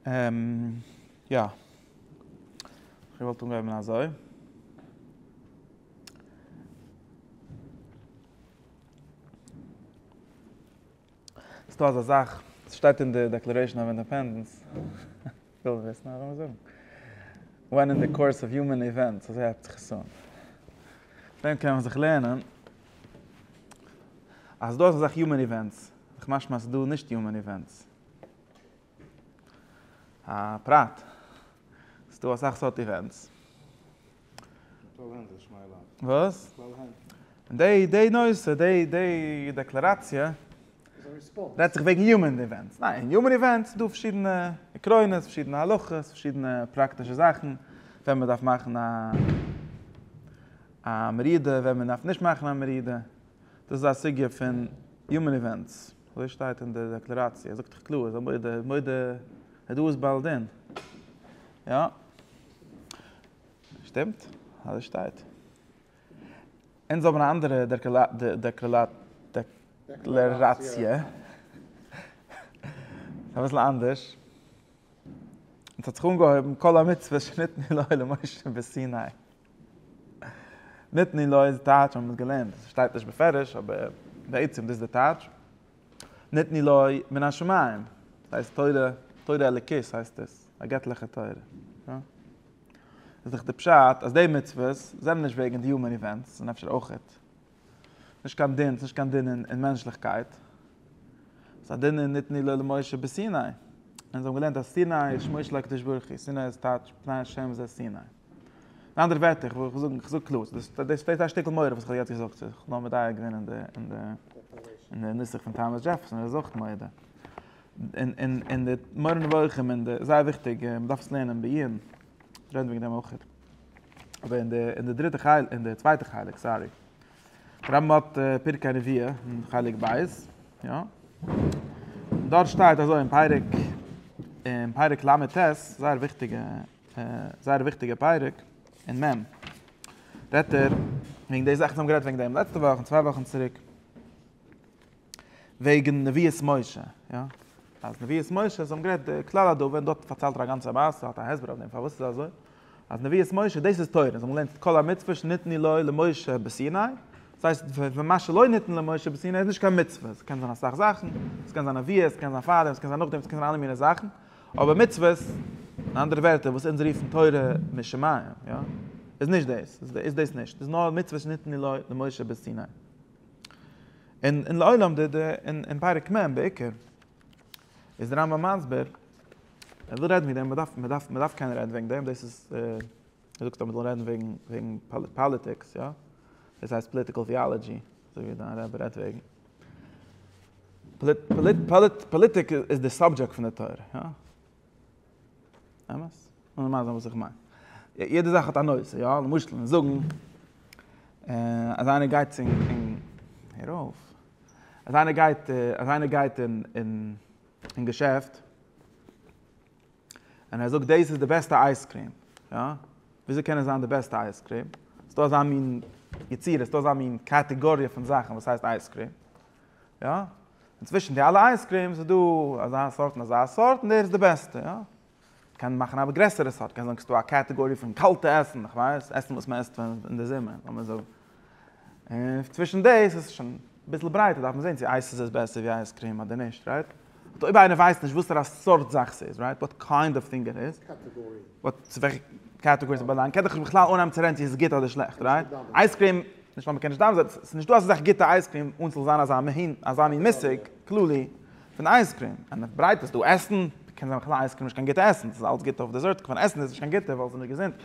און יא, איך וואלט אנגעהויבן אזוי. ס'איז דא אזא זאך, ס'שטייט אין די דעקלערעישאן אוו אינדעפענדענס, כ'וויל וויסן אז לאמיר זאגן, ווען אין די קאורס אוו יומען איווענטס, אזוי הייבט זיך עס אן. דען קען מען זיך לערנען אז דא איז אזא זאך יומען איווענטס, משמע אז ס'איז דא נישט יומען איווענטס. א פרט, ס'איז דא אסאך סארט איווענטס. בכלל היינט איז שמייל אויף. וואס? בכלל היינט. דעי דעי נושא, דעי דעי דעקלעראציע. איז א ריספאנס. רעדט זיך וועגן יומען איווענטס. ניין, אין יומען איווענטס איז דא פארשידענע עקרונות, פארשידענע הלכות, פארשידענע פראקטישע זאכן, ווען מ'דארף מאכן א א מרידה, ווען מ'דארף נישט מאכן א מרידה. דאס איז א סוגיא פון יומען איווענטס, אזוי שטייט אין די דעקלעראציע, ער זאגט דאך קלאר, ער איז א מודה, מודה דא איז בעל דין. יא. שטימט, אזוי שטייט. אונז האבן א אנדערע דעקלעראציע. אביסל אנדערש. אונז האט זיך אנגעהויבן כל המצוות שניתנו לו למשה בסיני. ניתני לו איז טייטש מ'האט געלערנט, ס'שטייט נישט בפירוש אבער בעצם דאס איז די טייטש, ניתני לו מן השמים, ס'הייסט תורה, תורה אלוקית הייסט עס, א געטליכע תורה. איז דאך די פשט אז די מצוות זענען נישט וועגן די יומען איווענטס, זענען אפשר אויכעט. נישט קיין דין, נישט קיין דין אין מענטשליכקייט. ס'איז א דין אין נתני לו למשה בסיני. און זיי האבן געלערנט אז סיני איז שמו של הקדוש ברוך הוא, סיני איז טייטש פני השם זה סיני. אין אנדערע ווערטער, איך וויל זאגן, איך זאג קלאר, דאס איז א שטיקל מורא וואס איך האב יעצט געזאגט, איך האב נאר מדייק געווען אין די נוסח פון טאמעס דזשעפערסאן, ער איז אויך מודה. אין די מורה נבוכים, אין די, זייער וויכטיג, מ'דארף עס לערנען בעיון, רעדן וועגן דעם אויך. אבער אין די אין די דריטע חלק אין די צווייטע חלק סארי רמב האט פרקי הנביאה אין חלק בית יא דארט שטייט אזוי אין פרק אין פרק ל ט זייער וויכטיגע זייער וויכטיגע פרק אין מ' רעדט ער וועגן די זאכן וואס מיר האבן גערעדט וועגן דעם לעצטע וואך און צוויי וואכן צוריק וועגן נביאות משה, יא, אז נביאות משה, זיי האבן גערעדט די כלל הדבר, און דארט פארציילט ער א גאנצע מעשה, האט א הסבר אויף דעם פארוואס ס'איז אזוי, אז נביאות משה, דאס איז תורה, זיי האבן געלערנט כל המצוות שניתנו לו למשה בסיני, דאס הייסט ווען מה שלא ניתן למשה בסיני איז נישט קיין מצוה, ס'קען זיין אסאך זאכן, ס'קען זיין נביאות, ס'קען זיין פארדעם, ס'קען זיין נאכדעם, ס'קען זיין אלע מיני זאכן, אבער מצוות, אין אנדערע ווערטער וואס אונז רופן תורה משמים, יא, איז נישט דאס, איז דאס נישט, ס'איז נאר מצוות שניתנו לו למשה בסיני. און און לעולם די די און און פרק מ' בעיקר איז די רמבם מסביר ער וויל רעדן ווי דעם מ'דארף מ'דארף מ'דארף קענען רעדן וועגן דעם דאס איז ער זאגט אז מ'זאל רעדן וועגן וועגן פאליטיקס יא דאס הייסט פאליטיקעל טיאלאגי אזוי ווי דיין רבי רעדט וועגן פאליטיק איז די סאבדזשעקט פון די תורה יא אמת? און מייזן וואס איך מיין. יעדע זאך האט א נושא, יא? למשל, און זאגן, אז איינער גייט צו און, הער אויף. אז איינער גייט, אז איינער גייט און, און, און געשעפט, און ער זאגט דאס איז די בעסטע אייזקריעם, יא? וויאזוי קען עס זיין די בעסטע אייזקריעם? ס'דא אזא מין יצירה, ס'דא אזא מין קאטעגאריע פון זאכן וואס הייסט אייזקריעם, יא? און צווישן די אלע אייזקרימס איז דא אזא סארט און אזא סארט און דער איז די בעסטע, יא. קען מאכן א גרעסערע סארט, קען זאגן ס'איז דא א קעטעגארי פון קאלטע עסן, איך ווייס, עסן וואס מ'עסט אין די זומער, לאמיר זאגן. און צווישן דאס איז שוין אביסל ברייטער, דארף מען זען צו אייס איז בעסער ווי אייזקרים אדער נישט, רייט? באט אויב איינער ווייסט נישט וואסערע סארט זאך ס'איז, רייט? וואט קיינד אוו טינג איט איז. קעטעגארי. צו וועלכע קעטעגארי ס'באלאנגט, קען דאך בכלל אנהייבן צו רעדן צו עס איז גוט אדער שלעכט, רייט? אייזקרים נישט ווייל מ'קען נישט דן זיי, ס'איז נישט דא אזא זאך גוטע אייזקרים אן ס'זאל זיין אזא מין אזא מין מושג כללי פון אייזקרים. און אויף ברייט איז דא עסן, קען זיין בכלל אייזקרים נישט קיין גוטע עסן, ס'איז אלץ גוט אויף דעזערט, כמובן עסן איז נישט קיין גוטע ווייל ס'איז נישט געזונט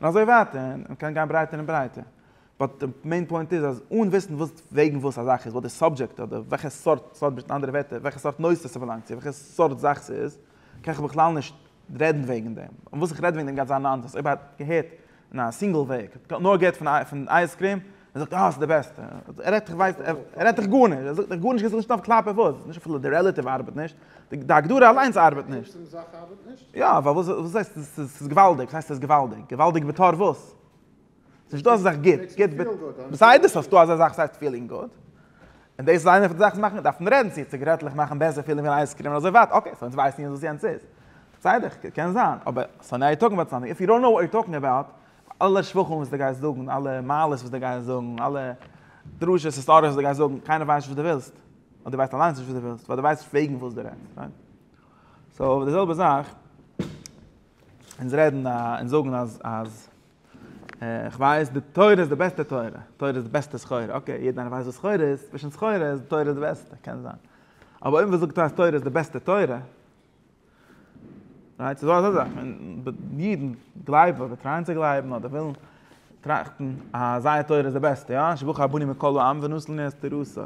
און אזוי ווייטער, און מ'קען גיין ברייטער און ברייטער. באט די מעין פוינט איז אז אן וויסן וואס וועגן וואס א זאך איז, וואס די סאבדזשעקט אדער וועלכע סארט סארט אין אנדערע ווערטער וועלכע סארט נושא ס'באלאנגט צו, וועלכע סארט זאך ס'איז, קען איך בכלל נישט רעדן וועגן דעם. און וואס איך רעד וועגן דעם גייט זיין א נאנסענס אויב א געהערט. אין א סינגל וועג, כ'האב נאר געהערט פון אייז קריעם, ער זאגט אה ס'איז די בעסטע, ער רעדט כ'ווייס, ער רעדט דיך גארנישט, ער זאגט דיך גארנישט כ'זאג נישט נאך קלאפ אויף וואס, נישט אפילו די רעלאטיוו ארבעט נישט, די הגדרה אליינס ארבעט נישט. די עצם זאך ארבעט נישט? יא, ווייל וואס וואס הייסט עס איז געוואלדיג, וואס הייסט עס איז געוואלדיג? געוואלדיג בתור וואס? ס'נישט דא אזא זאך גוט, גוט, בסדר ס'דא אזא זאך וואס הייסט פילינג גוט, און דאס איז איינע פון די זאכן וואס מאכט מיר דארפן רעדן צו ציגרעטלעך מאכן בעסער פילן ווי אן אייזקרים און אזוי ווייטער, אקעי סאו אונז ווייסן יעצט וואס יענץ איז, בסדר קען זיין, אבער סאו נאו יו טאלקינג אבאוט סאמטינג איף יו דאנט נאו וואט יו טאלקינג אבאוט, אלע שבחים וואס דו גייסט זאגן, אלע מעלות וואס דו גייסט זאגן, אלע דרשות היסטאריע וואס דו גייסט זאגן, קיינער ווייסט נישט וואס דו ווילסט, אדער דו ווייסט אליינס נישט וואס דו ווילסט, ווייל דו ווייסט נישט וועגן וואס דו רעדסט, רייט? סאו די זעלבע זאך, אונז רעדן און זאגן אז אז. איך ווייס די תורה איז די בעסטע תורה, תורה איז די בעסטע סחורה, אקעי, יעדער איינער ווייסט וואס סחורה איז, צווישן סחורה איז די תורה די בעסטע, קען זיין. אבער אויב מען זאגט אז תורה איז די בעסטע תורה, רייט, ס'איז דא אזא זאך, אידן גלייבן, אדער טרייען צו גלייבן, אדער ווילן טראכטן אז זייער תורה איז די בעסטע, יא, שבו כרבנים מכל העם ונוסלני אסתר רסא.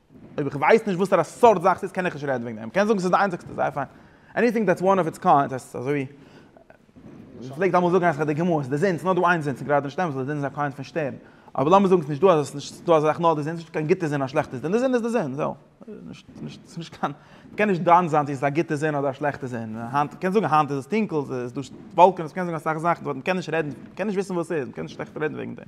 אויב איך ווייס נישט וואסערע סארט זאך ס'איז קען איך נישט רעדן וועגן דעם, קענסט זאגן ס'איז די איינציגסטע זייער פיין, עניטינג דעטס וואן אף איטס קיינד, דאס הייסט אזוי ווי מען פלעגט אמאל זאגן אז ס'איז די גמ' אז די זון, ס'איז נאר דא איין זון, ס'איז גראדע נישט אמת ווייל די זון איז א קיינד פון שטערן, אבער לאמיר זאגן ס'איז נישט דא אזא, ס'איז נישט דא אזא זאך נאר די זון, ס'איז נישט קיין גוטע זון און א שלעכטע זון, די זון איז די זון, זהו. ס'איז נישט קיין, מ'קען נישט דן זיין צו ס'איז א גוטע זון אדער א שלעכטע זון, היינט, מ'קען זאגן היינט איז עס טונקל, ס'איז דא וואלקענעס, מ'קען זאגן אסאך זאכן, באט מ'קען נישט רעדן, מ'קען נישט וויסן וואס ס'איז, מ'קען נישט עכט רעדן וועגן דעם.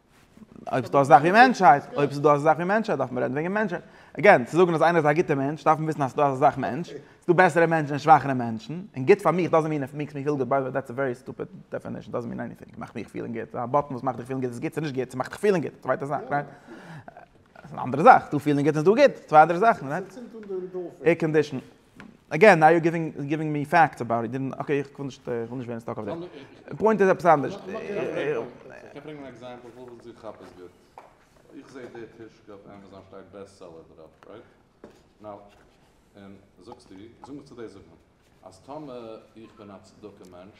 אויב ס'דא אזאך ווי מענטשהייט, אויב ס'דא אזאך ווי מענטשהייט דארף מען רעדן וועגן מענטשהייט. אגעין, צו זאגן אז איינער איז א גוטער מענטש דארף מען וויסן אז ס'דא אזאך מענטש, ס'דא בעסערע מענטשן און שוואכערע מענטשן, און גוט פאר מיך דאזענט מין איף מיקס מי פיל גוט ביי די וועי, דעטס א ווערי סטופיד דעפענישן, דאזענט מין עניטינג מאכט מיך פילן גוט, א באטן וואס מאכט דיך פילן גוט איז גוט, ס'איז נישט גוט, ס'מאכט דיך פילן גוט, צווייטע זאך, רייט? ס'איז אן אנדערע זאך, ס'דא פילן גוט און ס'דא גוט, צוויי אנדערע זאכן, רייט? עיר קאנדישן. אגעין נאו יור גיווינג מי פעקטס אבאוט איט, דען אקעי איך וויל נישט ווערן סטאק אויף דעם. פוינט איז עפעס אנדערש. קען ברענגען אן עקזעמפל פון וואס איך כאפ עס גוט. איך זע די טישקע אויף עמעזאן שטייט בעסטסעלער דערויף רייט? נאו. און זאגסטו, זאג מיך צו דאס זאגט מען אז טאמער איך בין א צדקה מענטש,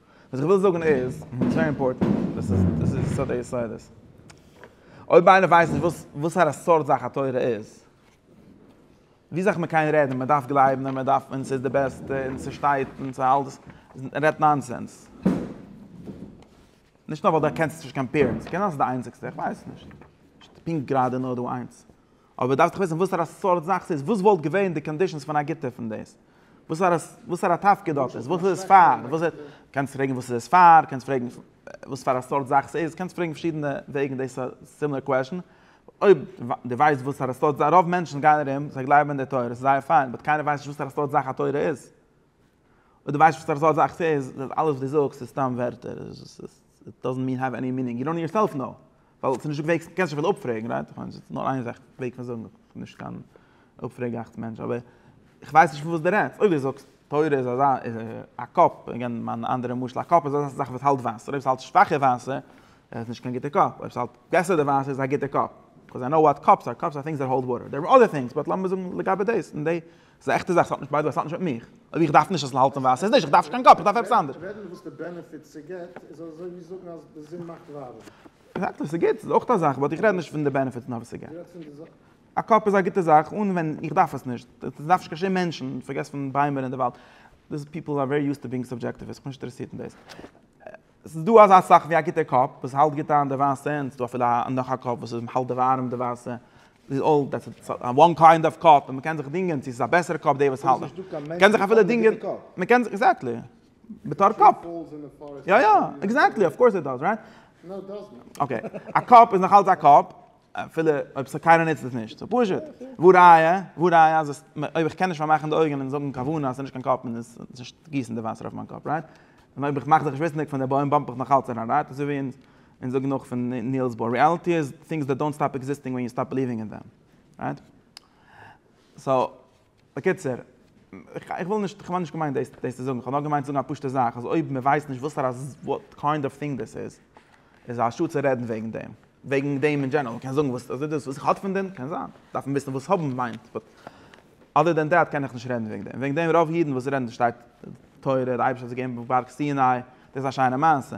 וואס איך וויל זאגן איז, עס איז ווערי אימפארטענט, דאס איז דאס איז יסוד היסודות. אויב איינער ווייסט נישט וואס וואסארא סארט זאך א תורה איז, ווי זאך מען קען רעדן, מען דארף גלייבן און מען דארף און עס איז די בעסטע און עס שטייט און עס האלט דאס, ער רעדט נאנסענס. נישט נאר ווייל דו קענסט נישט קיין פירות, קען זיין אז עס איז די איינציגסטע, איך ווייס נישט. פונקט גראדע נאר דא איינס. אבער דארפסט דאך וויסן וואסערע סארט זאך ס'איז, וואס וואלט געווען די קאנדישאנס פון א גוטע פון דאס, וואסערע וואסערע תפקיד האט עס, וואס איז עס פאר, וואס איז, קענסט פרעגן וואס איז עס פאר, קענסט פרעגן וואס פאר א סארט זאך ס'איז, קענסט פרעגן פארשידענע וועגן דאס א סימילער קוועשאן, אויב די ווייסט וואסערע סארט זאך, רוב מענטשן גייען ארום, זיי גלייבן אין די תורה, ס'איז זייער פיין, באט קיינער ווייסט נישט וואסערע סארט זאך א תורה איז, אויב די ווייסט וואסערע סארט זאך ס'איז, אלעס וואס די זאגסט איז סתם ווערטער, ס'איז דאזענט מין העוו עני מינינג, יו דאנט יורסעלף נאו, ווייל ס'איז נישט דא וועגס, קענסט נישט אפילו אפפרעגן, רייט? איך מיין ס'איז נאר איין זאך וועג פון זאגן, איך בין נישט קיין אפפרעגאכץ מענטש, אבער איך ווייס נישט פון וואס דו רעדסט, אויב דו זאגסט תורה איז אזא איז א קאפ, איך גיב מיין אנדערע משל, א קאפ איז אזא זאך וואס האלט וואסער, אויב ס'האלט שוואכע וואסער איז עס נישט קיין גוטע קאפ, אויב ס'האלט בעסער די וואסער איז עס א גוטע קאפ, קאז איי קנאו וואט קאפס אר, קאפס אר טינגס דעט האלד וואטער, דער איז אר אדער טינגס, באט לאמיר זאגן לגבי דאס, און די. ס'איז א עכטע זאך, ס'האט נישט ביי די וועי, ס'האט נישט מיט מיך. אויב איך דארף נישט עס זאל האלטן ווייס איך נישט, איך דארף נישט קיין קאפ, איך דארף עפעס אנדערש. רעדן וואס די בענעפיט ס'געט איז אזוי ווי זאגן אז די זון מאכט ווארעם. עקזעקטלי, ס'גוט, ס'איז אויך א זאך, באט איך רעד נישט פון די בענעפיט נאר וואס ס'געט. א קאפ איז א גוטע זאך אן ווען איך דארף עס נישט, דאס דארף נישט קיין שום מענטשן, פארגעס פון ביימער אין די וואלד, דאס פיפל אר ווערי יוזד טו בינג סובדזשעקטיוו, עס האט מיך נישט אינטערעסירט אין דאס. עס איז דא אזא זאך ווי א גוטער קאפ וואס האלט גוט איין די ווייסע און עס איז דא אפילו א נאך א קאפ וואס האלט די ווארעם די ווייסע איז אויל דעטס איט סא וואן קיינד אוו קאפ און מען קען זיך דינגען צו עס איז א בעסערע קאפ די וואס האלט מען קען זיך אפילו דינגען מען קען זיך עקזעקטלי בתור קאפ יא יא עקזעקטלי אויף קאורס איט דאז רייט אקעי א קאפ איז נאך אלץ א קאפ אפילו אויב ס'איז קיינער נוצט עס נישט. ס'איז פשוט. וואו ראיה? וואו ראיה אז עס, אויב איך קען נישט פארמאכן די אויגן און זאגן כוונה אז ס'איז נישט קיין קאפ און עס איז נישט גיסן די וואסער אויף מיין קאפ, רייט? און אויב איך מאך זיך נישט וויסנדיג פון די בוים באמפ איך נאכאלץ אריין, רייט? אזוי ווי אונז אונז זאגן נאך פון ניעלס באר, ריאליטי איז things that don't stop existing when you stop believing in them, רייט? סאו. בקיצור, איך וויל נישט, כ'האב נישט געמיינט דאס צו זאגן, כ'האב נאר געמיינט צו זאגן א פשוטע זאך, אז אויב מען ווייסט נישט וואסארא וואט קיינד אוו טינג דאס איז, איז א שאד צו רעדן וועגן דעם, וועגן דעם אין דזשענעראל, מ'קען זאגן וואס איז דאס, וואס איך האלט פון דעם, קען זיין, דארף מען וויסן וואס האבן מיינט, באט אדער דען דעט קען איך נישט רעדן וועגן דעם, וועגן דעם רוב אידן וואס רעדן דאס שטייט תורה, די אייבערשטער האט זיי געגעבן פון בארג סיני, דאס איז א שיינע מעשה.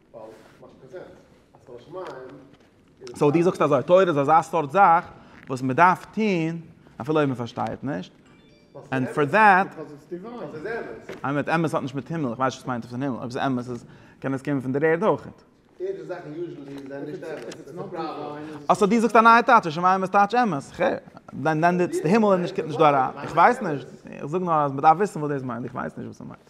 סאו דו זאגסט אזוי, תורה איז אזא סארט זאך וואס מען דארף טון אפילו אויב מען פארשטייט נישט, און פאר דעט, אמת, אמת האט נישט מיט הימל, איך ווייס נישט וואס מיינט אויף דעם הימל, אויב ס'איז אמת איז קען עס קומען פון דער ערד אויכעט. אה סאו דו זאגסט א נייע טייטש, השמים אמת טייטש אמת, ח, דען די הימל איז נישט קומט נישט דא אריין, איך ווייס נישט, איך זאג נאר אז מען דארף וויסן וואס דאס מיינט, איך ווייס נישט וואס ס'מיינט.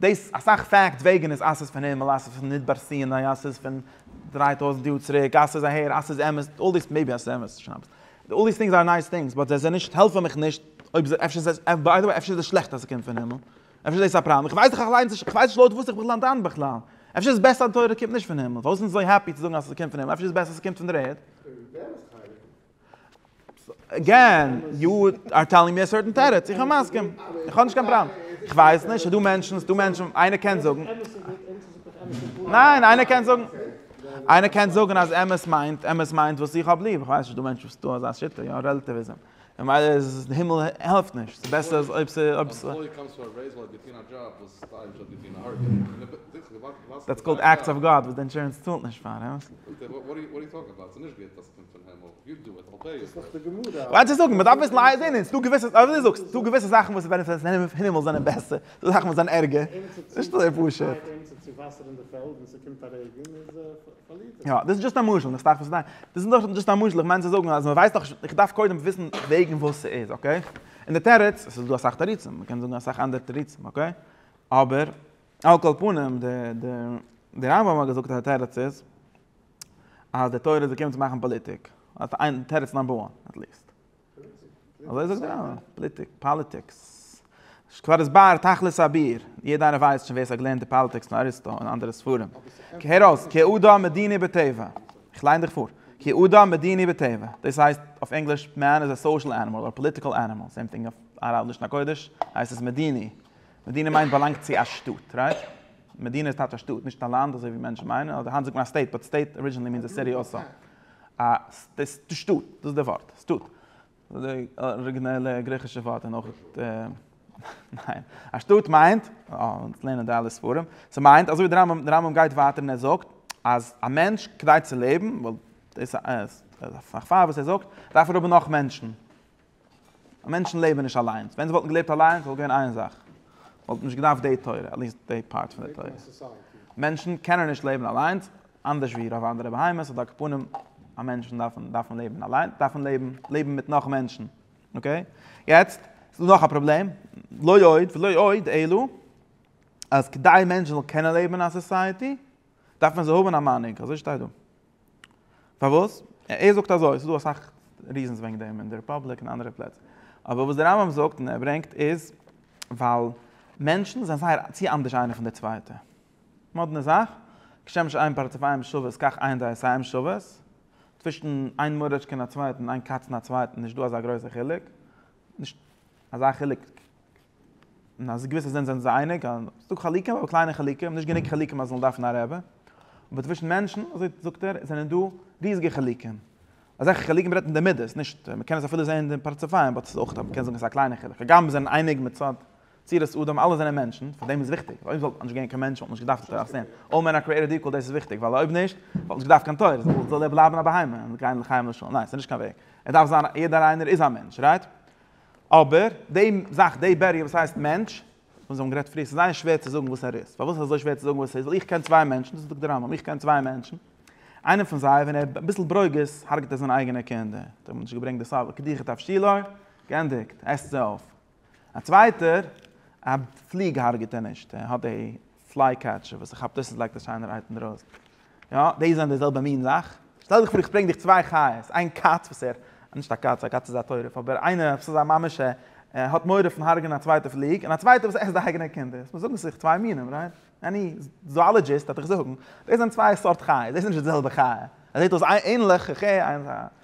דאס אסאך פאקטס וועגען איז אסעס פון הימעל אסעס פון מדבר סיני אסעס פון דריי טויזענט יאר צוריק אסעס אהער אסעס אמת אלל דיס מעיבי אסעס אמת וואס שרייבסט אלל דיס טינגס אר נייס טינגס באט זיי זענען נישט העלפען מיך נישט אויב זיי אפשר איז עס ביי די וועי אפשר איז עס שלעכט אז עס קומט פון הימעל אפשר איז דאס א פראבלעם איך ווייס דאך איך ליין איך ווייס נישט לויט וואס איך בין דן בכלל אפשר איז בעסער אז די תורה קומט נישט פון הימעל פארוואס זענען זיי אזוי העפי צו זאגען אז עס קומט פון הימעל אפשר איז עס בעסער אז עס קומט פון דער ערד. אגעין, יו אר טעללינג מי א סערטען תירוץ, איך בין מסכים, איך האב נישט קיין פראבלעם. איך ווייס נישט, ס'דא מענטשן, ס'דא מענטשן, איינער קען זאגן. ניין, איינער קען זאגן. איינער קען זאגן אז אמת מיינט, אמת מיינט וואס איך האב ליב, איך ווייס נישט, ס'דא מענטשן וואס טוען אזא שיטה, יא, רעלאטיוויזם. ממילא איז עס, די הימל העלפט נישט, ס'איז בעסער אז אויב ס'איז. דעטס קאלד עקטס אוו גאד וואס די אינשורענס צאלט נישט פאר. ווייל צו זאגן, מ'דארף וויסן אייער דין, און ס'דא געוויסע, אזוי ווי דו זאגסט, ס'דא געוויסע זאכן וואס ווען עס איז אין הימל זענען בעסער, ס'דא זאכן וואס זענען ערגער, נישט אזוי פשוט. יא, דאס איז דזשאסט א משל, איך פארשטיי וואס דו מיינט. דאס איז נאר דזשאסט א משל, איך מיין צו זאגן אז מ'ווייסט דאך, איך דארף קודם וויסן וועגן וואס ס'איז, אקעי? און די תירוץ, עס איז דא אסאך תירוצים, מ'קען זאגן אסאך אנדערע תירוצים, אקעי? אבער על כל פנים, די רמב ם האט געזאגט אז די תירוץ איז, אז די תורה איז געקומען צו מאכן פאליטיק, תירוץ נאמבער וואן, עט ליסט. אזוי זאגט דער רמב ם, פאליטיק, פאליטיקס. כבר הוסבר תכלית האביר, יעדער איינער ווייסט שוין ווער ס'האט געלערנט די פאליטיקס פון אריסטו און אנדערע ספרים. הער אויס, כי אדם מדיני בטבע. איך ליין דיך פאר. כי אדם מדיני בטבע. דאס הייסט אויף ענגליש, מען איז א סאושעל ענימאל אדער פאליטיקעל ענימאל, סעים טינג אויף לשון הקודש הייסט עס מדיני. מדיני מיינט באלאנגט צו א שטאט, רייט? מדינה איז טייטש א שטאט, נישט א לאנד אזוי ווי מענטשן מיינען, אדער היינט זאגט מען א סטעיט, באט סטעיט ארידזשינעלי מיענס א סיטי אלסא. א שטאט, דאס איז די ווארט, שטאט. די אריגינעלע גריכישע ווארט איז נאך. ניין. א שטאט מיינט, אונז לערנען די אלע ספרים, ס'מיינט אזוי ווי די רמב ם, די רמב ם גייט ווייטער און ער זאגט אז א מענטש כדי צו לעבן, ווייל דאס איז א כפר וואס ער זאגט, דארף ער האבן נאך מענטשן. מענטשן לעבן נישט אליינס, ווען זיי וואלטן געלעבט אליינס וואלט געווען איין זאך, וואלטן נישט געדארפט די תורה, עטליעסט די פארט פון די תורה. מענטשן קענען נישט לעבן אליינס, אנדערש ווי רוב אנדערע בהמות אדער קפונים, א מענטשן דארפן דארפן לעבן אליין, דארפן לעבן לעבן מיט נאך מענטשן, אקעי? יעצט, ס'איז נאך א פראבלעם, לא עוד ולא עוד, אלא אז כדי מענטשן זאלן קענען לעבן אין א סאסייעטי, דארף מען זיי האבן א מנהיג, אזוי שטייט דא. פארוואס? ער זאגט אזוי, ס'איז דא אסאך ריזענס וועגן דעם אין די רעפובליק און אנדערע פלעצער. אבער וואס דער רמב ם זאגט און ער ברענגט איז, ווייל מענטשן זענען זייער צו אנדערש איינער פון דער צווייטער. מאדנע זאך, כשם שאין פרצוף איהם שוות כך אין דעת איהם שוות. צווישן איין מורא'טשקע און א צווייטן, איין קאץ און א צווייטן, נישט דא אזא גרויסער חילוק. נישט אזא חילוק און אז געוויסע זענען זענען זיי אייניג, ס'דא חלקים אבער קליינע חלקים, נישט גענוג חלקים אז מען זאל דארפן א רבי, אבער צווישן מענטשן, אזוי זאגט ער, זענען דא ריזיגע חלקים, אזעלכע חלקים רעדט אין די מדות, נישט, מען קען עס אפילו זען אין די פרצופים, באט ס'איז אויך, מען קען זאגן ס'איז א קליינע חלק, הגם מיר זענען אייניג מצד צורת אדם, אלע זענען מענטשן, פארדעם איז וויכטיג, ווייל אויב ס'וואלט נישט געווען קיין מענטשן וואלט נישט געדארפט תורת אסען, אלל מען אר קריעטעד איקוואל דאס איז וויכטיג, ווייל אויב נישט וואלט נישט געדארפט קיין תורה, זאל זאל ער בלייבן א בהמה, און גיין לחיים לשלום, ניין ס'איז נישט קיין וועג, ער דארף זיין, יעדער איינער איז א מענטש, רייט? אבער, די זאך, די בעריער וואס הייסט מענטש, וואס זיי האבן גערעדט פריער, ס'איז זייער שווער צו זאגן וואס ער איז. פארוואס איז אזוי שווער צו זאגן וואס ער איז? ווייל איך קען צוויי מענטשן, דאס זאגט דער רמב ם, איך קען צוויי מענטשן, איינער פון זיי, ווען ער האט אביסל ברוגז, הרג'ט ער זיינע אייגענע קינדער. דאס האט מען נישט געברענגט בסבא ק דיכא תבשילא, גענדיגט, עסט זיי אויף. א צווייטער, א פליג הרג'ט ער נישט, ער האט די. פליי קעטשער וואס איך כאפ דאס איז לייגט א שיינער אייטעם דערויס יא דאס זענען די זעלבע מין זאך שטעל דיך פאר איך ברענג דיך צוויי חיות איין קאץ וואס ער נישט א קאץ א קאץ איז א טורף אבער איינער וואס איז א ממש ער האט מורא פון הרג'נען א צווייטע פליג און א צווייטע וואס עסט די אייגענע קינדער וואס זאגן זיך צוויי מינים רייט עני זואלאגיסט וועט דיך זאגן דאס זענען צוויי סארט חיות דאס איז נישט די זעלבע חיה עס זעט אויס ענליך ח ח איינס א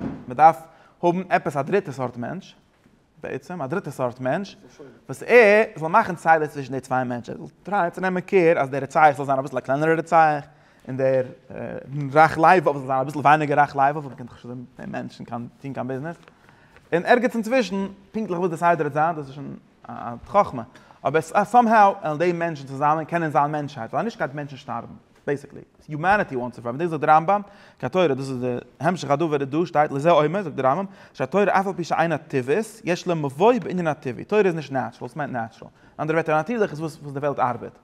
מען דארף האבן עפעס א דריטע סארט מענטש, בעצם א דריטע סארט מענטש, וואס ער זאל מאכן סדר צווישן די צוויי מענטשן, ער זאל טרייען צו נעמען קעיר אז דער רוצח זאל זיין אביסל א קלענערער רוצח, און דער רח ל זאל זיין אביסל ווייניגער רח ל, ווייל מען קען דאך נישט מיט דעם מענטשן קיין טון קיין ביזנעס, און ערגעץ אינצווישן, פונקטליך וואס די סדר וועט זיין, דאס איז שוין א חכמה, אבער סאמהאו וועלן די מענטשן צוזאמען קענען זיין מענטשהייט, ווייל אנישט גייט מענטשן שטארבן. בעיסיקלי, יומעניטי וואנטס טו פראווען דאס זאגט דער רמב ם, כי התורה, דאס איז די המשך הדבר איז דא שטייט לזה אומר, זאגט דער רמב ם, שהתורה אף על פי שאינה טבעית, יש לה מבוא בענין הטבעי, תורה איז נישט נעטשרעל, וואס מיינט נעטשרעל? אין אנדערע ווערטער א נאטירליך איז וואס די וועלט ארבעט,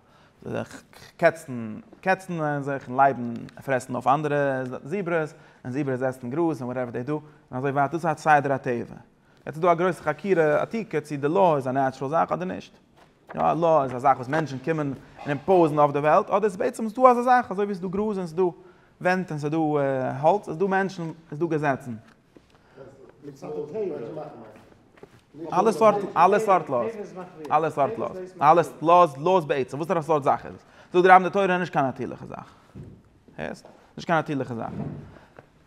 קעצן קעצן זיך און לייבן פרעסן אויף אנדערע זיברעס, און זיברעס עסן גראז און וואטעווער דעי דא, און אזוי ווייטער, דאס איז סדר הטבע. יעצט איז דא א גרויסע חקירה עתיקה צי די לאו איז א נעטשרעל זאך אדער נישט. יא, א לאו איז א זאך וואס מענטשן קומען און אימפאוזן אויף די וועלט, אדער ס'איז בעצם ס'דא אזא זאך אזוי ווי ס'דא גראז און ס'דא ווענט און ס'דא האלץ איז דא מענטשן, איז דא געזעצן. אלע סארט אלע סארט לאו'ס. אלע סארט לאו'ס. אלע לאו'ס לאו'ס בעצם. וואסערע סארט זאך איז עס? זאגט דער רמ די תורה איז נישט קיין נאטירליכע זאך. הערסט? נישט קיין נאטירליכע זאך.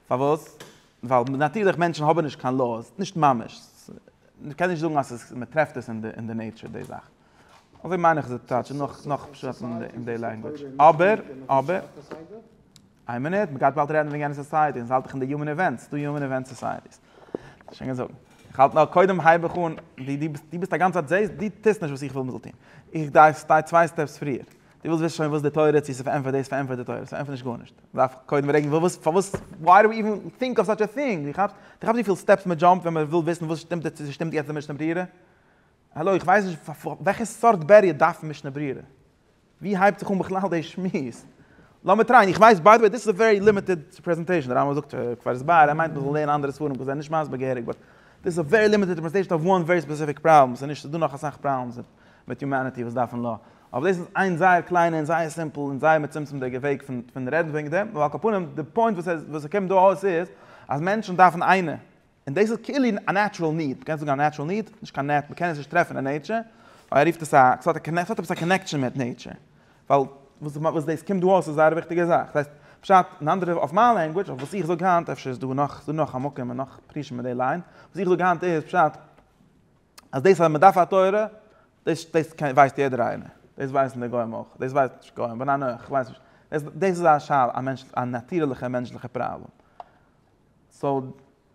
פארוואס? ווייל נאטירליך מענטשן האבן נישט קיין לאו'ס, נישט ממש. מ'קען נישט זאגן אז מ'טרעפט עס אין די נעיטשער די זאך. אזוי מיין איך זיך טייטשן נאך פשט אין די לענגוויטש. אבער, אבער. איין מינוט, מ'גייט באלד רעדן וועגן יענע סאסייעטי, אונז האלט דאך אין די יומען איווענטס, ס'דא יומען איווענט סאסייעטיס. שוין געזאגט. איך האלט נאר קודם הייב איך אן, דו ביסט א גאנץ צייט זעהסט, דו טוסט נישט וואס איך וויל מ'זאל טון. איך גיי צוויי סטעפס פריער. די ווילסט וויסן שוין וואס די תורה צו ס'פארענטפערט דאס פארענטפערט די תורה ס'פארענטפערט נישט גארנישט מ'דארף קודם פרעגן וואס פארוואס וויי דו איווען טינק אוו סאטש א טינג דו כאפסט דו כאפסט וויפיל סטעפס מ'דזשאמפט ווען מ'וויל וויסן וואס שטימט צו ס'שטימט יעצט די משנה ברירה? האלא איך ווייס נישט וועלכע סארט בעריער דארף משנה ברירה? ווי הייבט זיך אן בכלל די שמועס? לאמיר טרייען איך ווייס ביי די וועי דיס איז א ווערי לימיטעד פרעזענטעישן די רמב ם זאגט כבר ס ב ער מיינט מ'זאל לערנען אנדערע ספרים כדי זיי נישט מסביר געהעריג באט דיס איז א ווערי לימיטעד רעפרעזענטעישן אוו וואן ווערי ספעסיפיק פראבלעם ס'איז נישט ס'איז דא נאך אסאך פראבלעמס מיט יומעניטי וואס דארפן ל ע אבער דאס איז איין זייער קליינע און זייער סימפל און זייער מצומצם'דיגע וועג פון פון רעדן וועגן דעם, נאר על כל פנים די פוינט וואס ער וואס ער קומט דא אויס איז אז מענטשן דארפן איינע, און דאס איז כאילו א נעטשרעל ניד, מ'קען זאגן א נעטשרעל ניד, נישט קיין נעט, מ'קען עס נישט טרעפן אין נעטשער, אבער ער רופט עס א, עס האט עס האט עפעס א קאנעקשאן מיט נעטשער, ווייל וואס וואס דאס קומט דא אויס איז א זייער וויכטיגע זאך, דאס הייסט, פשט אין אנדערע אויף מיין לענגוויטש, אויף וואס איך זאג היינט, אפשר איז דא נאך, ס'דא נאך א מקום און נאך פרישים אין די ליין, וואס איך זאג היינט איז פשט, אז דאס אז מען דארף א תורה, דאס דאס ווייסט יעדער איינער, דאס ווייסן די גוים אויך, דאס ווייסט נישט גוים, בין אני איך ווייס נישט, דאס דאס איז א שאלה, א מענטש א נאטירליכע מענטשליכע פראבלעם, סאו און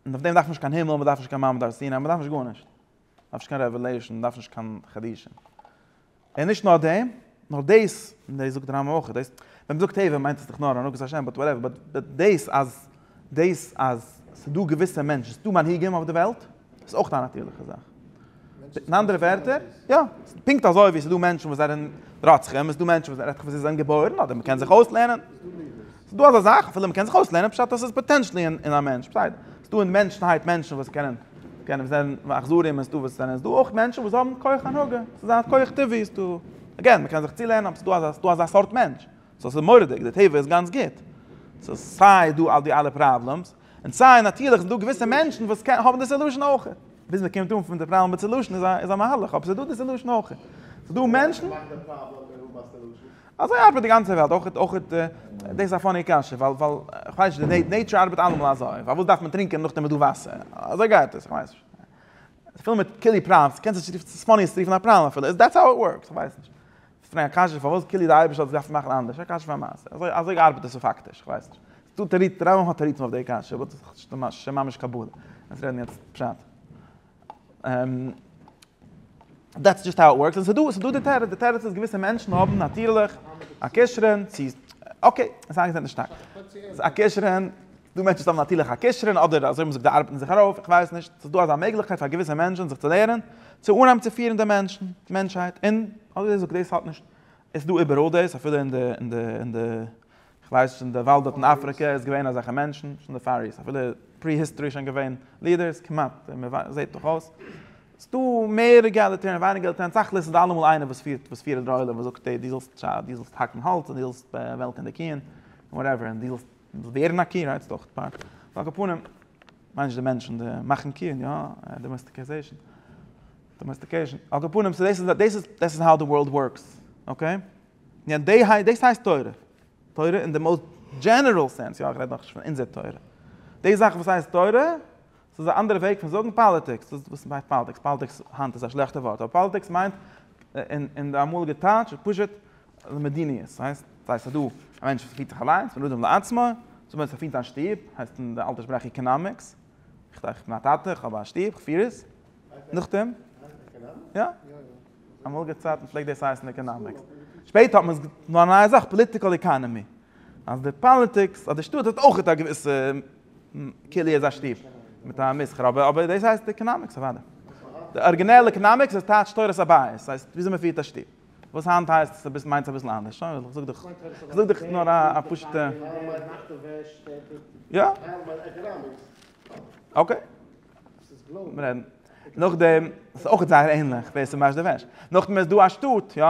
אויף דעם דארף מען נישט קיין הימל, מען דארף נישט קיין מעמד הר סיני, מען דארף נישט גארנישט, מען דארף נישט קיין רעוועלעישן, מען דארף נישט קיין חידושים. און נישט נאר דעם, נאר דאס, און דאס זאגט די רמב ם אויך, דאס, ווען מ'זאגט טבע מיינט עס דאך נאר הנהגת השם, באט וואטעווער, באט דאס אז, דאס אז ס'איז דא געוויסע מענטשן, ס'איז דא מנהיגים אויף די וועלט, איז אויך א נאטורליכע זאך. אין אנדערע ווערטער, יא, פונקט אזוי ווי ס'איז דא מענטשן וואס זענען רוצחים, איז דא מענטשן וואס זענען געבוירן, אדער מ'קען זיך אויסלערנען. ס'איז דא אזא זאך, אפילו מ'קען זיך אויסלערנען, פשט אז ס'איז פאטענשעלי אין א מענטש, בסדר. ס'איז דא אין מענטשנהייט מענטשן וואס קענען, קענען זען אכזרים און ס'דא וואס זענען, ס'איז דא אויך מענטשן וואס האבן כח הנהגה, ס'איז א כח טבעי, איז דא, אגעין, מ'קען זיך צולערנען, אבער ס'איז דא, ס'איז דא אזא סארט מענטש. סאו ס'איז מורא'דיג, די טבע איז גאנץ גוט. סאו סיי איז דא די אלע פראבלעמס, און סיי נאטירליך ס'דא געוויסע מענטשן וואס קענען, האבן די סעלושען אויך. ביז מ'קומט אן פון די פראבלעם ביז סעלושען איז א מהלך, אבער ס'איז דא די סעלושען אויך. ס'איז דא מענטשן. אזוי ארבעט די גאנצע וועלט, אויך אויך אויך דאס איז א פאני קשיא, ווייל ווייל כ'ווייס נישט, די נעיטשור ארבעט אלעמאל אזוי, פארוואס דארף מען טרינקען נאכדעם איז דא וואסער, אזוי גייט עס, כ'ווייס נישט. ס'איז פול מיט קילי פראנס, קענסט עס רופן, ס'איז פאני עס צו רופן א פראן אפילו, איז דעטס האו איט ווארקס, כ'ווייס נישט. ס'איז פון א קשיא פארוואס קילי די אייבערשטער האט עס געדארפט מאכן אנדערש, א קשיא פאר מעשה, אזוי אזוי ארבעט עס פאקטיש, כ'ווייס נישט. ס'איז דא תירוצים, די רמב ם האט תירוצים אויף די קשיא, באט ס'איז שוין ממש קבלה, אונז רעדן יעצט פשט. דעטס דזשאסט האו איט ווארקס, און ס'איז דא, ס'איז דא די תירוץ, די תירוץ איז געוויסע מענטשן האבן נאטירליך א כשרון צו, אקעי, עס איז איינגעזעצט שטארק, א כשרון, דא מענטשן וואס האבן נאטירליך א כשרון, אדער אזוי האבן זיי געזאגט זיי ארבעטן זיך ארויף, איך ווייס נישט, ס'איז דא אזא מעגליכקייט פאר געוויסע מענטשן זיך צו לערנען, צו אנהייבן צו פירן די מענטשן, מענטשהייט, און אזוי זאגט דאס האט נישט, עס איז דא איבעראל דאס, אפילו אין די, אין די, אין די. כ'ווייס שוין די וואלד דארט אין אפריקע איז געווען אזעלכע מענטשן, שוין די פאריס, אפילו פרי היסטארי שוין געווען לידערס, כמעט, זעהט דאך אויס. ס'איז דא מער עגאליטערן ווייניגער עגאליטערן, תכלית איז דא אלעמאל איינער וואס פירט וואס פירט די עולם וואס זאגט די זאלסט די זאלסט האקן האלץ און די זאלסט וועלקן די קיען און וואטעווער און די זאלסט ווערן א קי רייטסט אויך פאר על כל פנים מיינסט די מענטשן די מאכן קיען יא דאמעסטיקעזעישן דאמעסטיקעישן על כל פנים סאו דאס איז דאס איז דאס איז האו די ווארלד ווארקס אקעי. ניין דעי היי דאס הייסט תורה. תורה אין די מאוסט דזשענערל סענס, יא איך רעד נאכנישט פון אונזער תורה. די זאך וואס הייסט תורה, ס'איז א אנדערע וועג פון זאגן פאליטיקס, דאס וואס מ'הייסט פאליטיקס, פאליטיקס היינט איז א שלעכטע ווארט, אבער פאליטיקס מיינט אין די אמאליגע טייטש פשוט מדיניות, ס'הייסט ס'איז דא א מענטש וואס פירט זיך אליינס, בן אדם לעצמו, זאגן מיר עס פירט א שטוב, הייסט אין די אלטע שפראך איקענאמיקס, איך בין א טאטע, איך האב א שטוב, איך פיר עס, נאכדעם, יא. אמאליגע צייטן פלעגט דאס הייסן עקאנאמיקס, שפעטער האט מען עס געטון פאר א נייע זאך, פאליטיקעל עקאנעמי, אז די פאליטיקס, אז די שטאט האט אויך א געוויסע כלי איז א שטוב מיט א מסחר, אבער דאס הייסט עקאנאמיקס אוודאי. די ארגינעל עקאנאמיקס איז טייטש תורת הבית, ס'הייסט וויאזוי מען פירט א שטוב, וואס היינט הייסט עס מיינט עס אביסל אנדערש, שוין איך זאג דאך, איך זאג דאך נאר א פשוט'ע. יא. אקעי. לאמיר רעדן. נאכדעם, ס'איז אויך זייער ענליך ווער ס'וואשט די וועש. נאכדעם איז דא א שטאט, יא,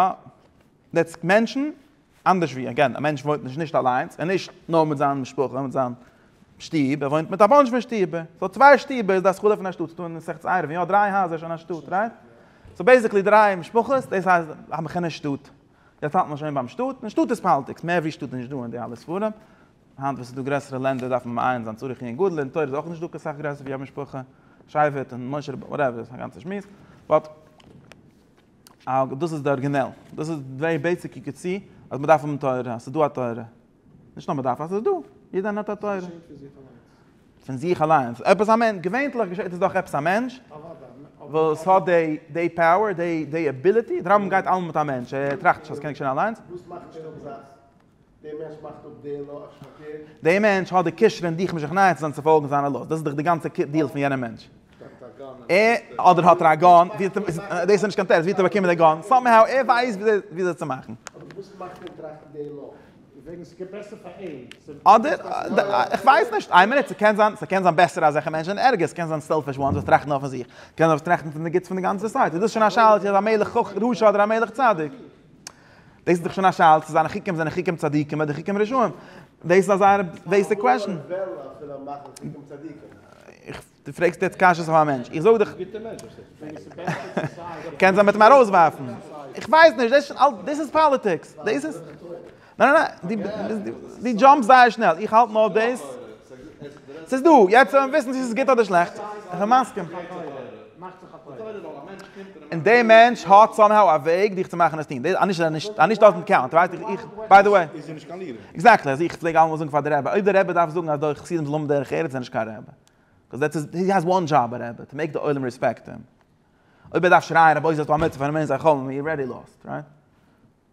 דעטס מענטשן, אנדערש ווי, אגעין, א מענטש וואוינט נישט נישט אליינס, און נישט נאר מיט זיין משפחה, מיט זיין שטוב, ער וואוינט מיט א באנטש פון שטובער. סאו צוויי שטובער איז די השכלה פון א שטאט, ס'איז דא אין מסכת עירובין, יא, דריי הייזער איז שוין א שטאט, רייט? סאו בעיסיקלי דריי משפחות, דאס הייסט א מכונה שטאט. יעצט האלט מען שוין ביים שטאט, און שטאט איז פאלטיגס, מער ווי שטאט איז נישט דא אין די אלע ספרים. היינט וואס ס'איז דא גרעסערע לענדער דארף מען מעיין זיין צורך עיון גדול, אין תורה איז אויך נישט דוקא סאך גרעסער ווי א משפחה, שייווערט און משה רבנו, וואטעווער, ס'איז א גאנצע שמועס, באט דאס איז די ארגינעל, דאס איז דעי בעיסיקע קצה אז מ'דארף האבן תורה, אז ס'איז דא א תורה, נישט נאר מ'דארף, אז ס'איז דא, יעדער איינער האט א תורה. פון זיך אליינס, עפעס א מענטש, געווענטליך געשעט עס דורך עפעס א מענטש, וואס האט דעי דעי פאוער, דעי דעי עביליטי, דער רמב ם גייט אלעמאל מיט א מענטש, ער טראכט נישט אז ס'קען געשען אליינס. דער מענטש מאכט אפ דער לא אשת חבר. דער מענטש האט די כשרון און די כמשכניות זיין צו פאלגן זיינע לא'ס. דאס איז דאך די גאנצע דיעל פון יענער מענטש. ער, אדער האט ער א גאן, ווי האט ער, דאס איז נישט קיין טעסט, ווי האט ער באקומען די גאן? סאמהאו ער ווייסט ווי אזוי צו מאכן. אבער וואס מאכט אים טראכטן דער לא? וועגן ס'גייט בעסער פאר אים. אדער, איך ווייס נישט, איין מינוט, ס'קען זיין, ס'קען זיין בעסער אזעלכע מענטשן זענען ערגער, ס'קען זיין סעלפיש וואנס וואס טראכטן נאר פון זיך, קען זיין וואס טראכטן פון די גוטס פון די גאנצע סאסייעטי, דאס איז שוין א שאלה צו ער איז א מלך רשע אדער א מלך צדיק. דאס איז דאך שוין א שאלה צו זיינע חוקים זענען חוקים צדיקים אדער חוקים רשעים. דאס איז א זייער בעיסיק קוועשאן. דו פרעגסט יעצט קשיות אויף א מענטש. איך זאג דיך. קענסט אים בעצם ארויסווארפן. איך ווייס נישט, דאס איז אלס, דאס איז פאליטיקס. דאס איז. ניין ניין ניין, דו דזשאמפסט זייער שנעל. איך האלט נאר דאס. ס'איז דא, יעצט וועלן מיר וויסן צו ס'איז גוט אדער שלעכט. איך בין מסכים. און דער מענטש האט סאמהאו א וועג דיך צו מאכן עס טון, דאס אנישט אז ער אנישט דאזענט קאונט, ווייסט איך איך ביי די וועי. עקזעקטלי, אזוי איך פלעג אלעמאל זאגן פאר די רבי, אויב די רבי דארף זאגן אז דורך חסידים זאל האבן דרך ארץ איז ער נישט קיין רבי. קאז דעטס איז הי העז וואן דזשאב א רבי, טו מעיק די עולם רעספעקט הים. אויב ער דארף שרייען רבותי זאלסטו א מצוה פארן מענטש זיי חלומ'ן, יו אר רעדי לאסט, רייט?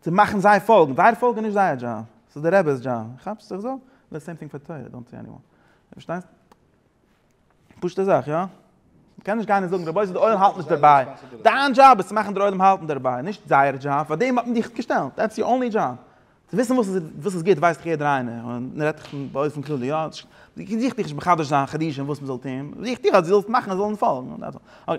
צו מאכן זיי פאלגן, זייער פאלגן איז נישט זייער דזשאב, ס'איז דער רעבע'ס דזשאב, כאפסט וואס איך זאג? די סעים טינג פאר תורה, דאנט סי עניוואן, פארשטייסט? פשוטע זאך, יא? מ'קען נישט גיין און זאגן רבותי די עולם האלט נישט דערביי, דיין דזשאב איז צו מאכן דער עולם האלטן דערביי, נישט זייער דזשאב, פאר דעם האט מען דיך געשטעלט, דעטס יור אנלי דזשאב, צו וויסן וואס איז וואס איז גוט ווייסט דאך יעדער איינער, און מ'רעדט דאך באופן כללי, יא? זיך דיך נישט מחדש זיין חידושים וואס מ'זאל טון, זיך דיך אז דו זאלסט מאכן זיי זאלן פאלגן, דעטס אלל. אקעי.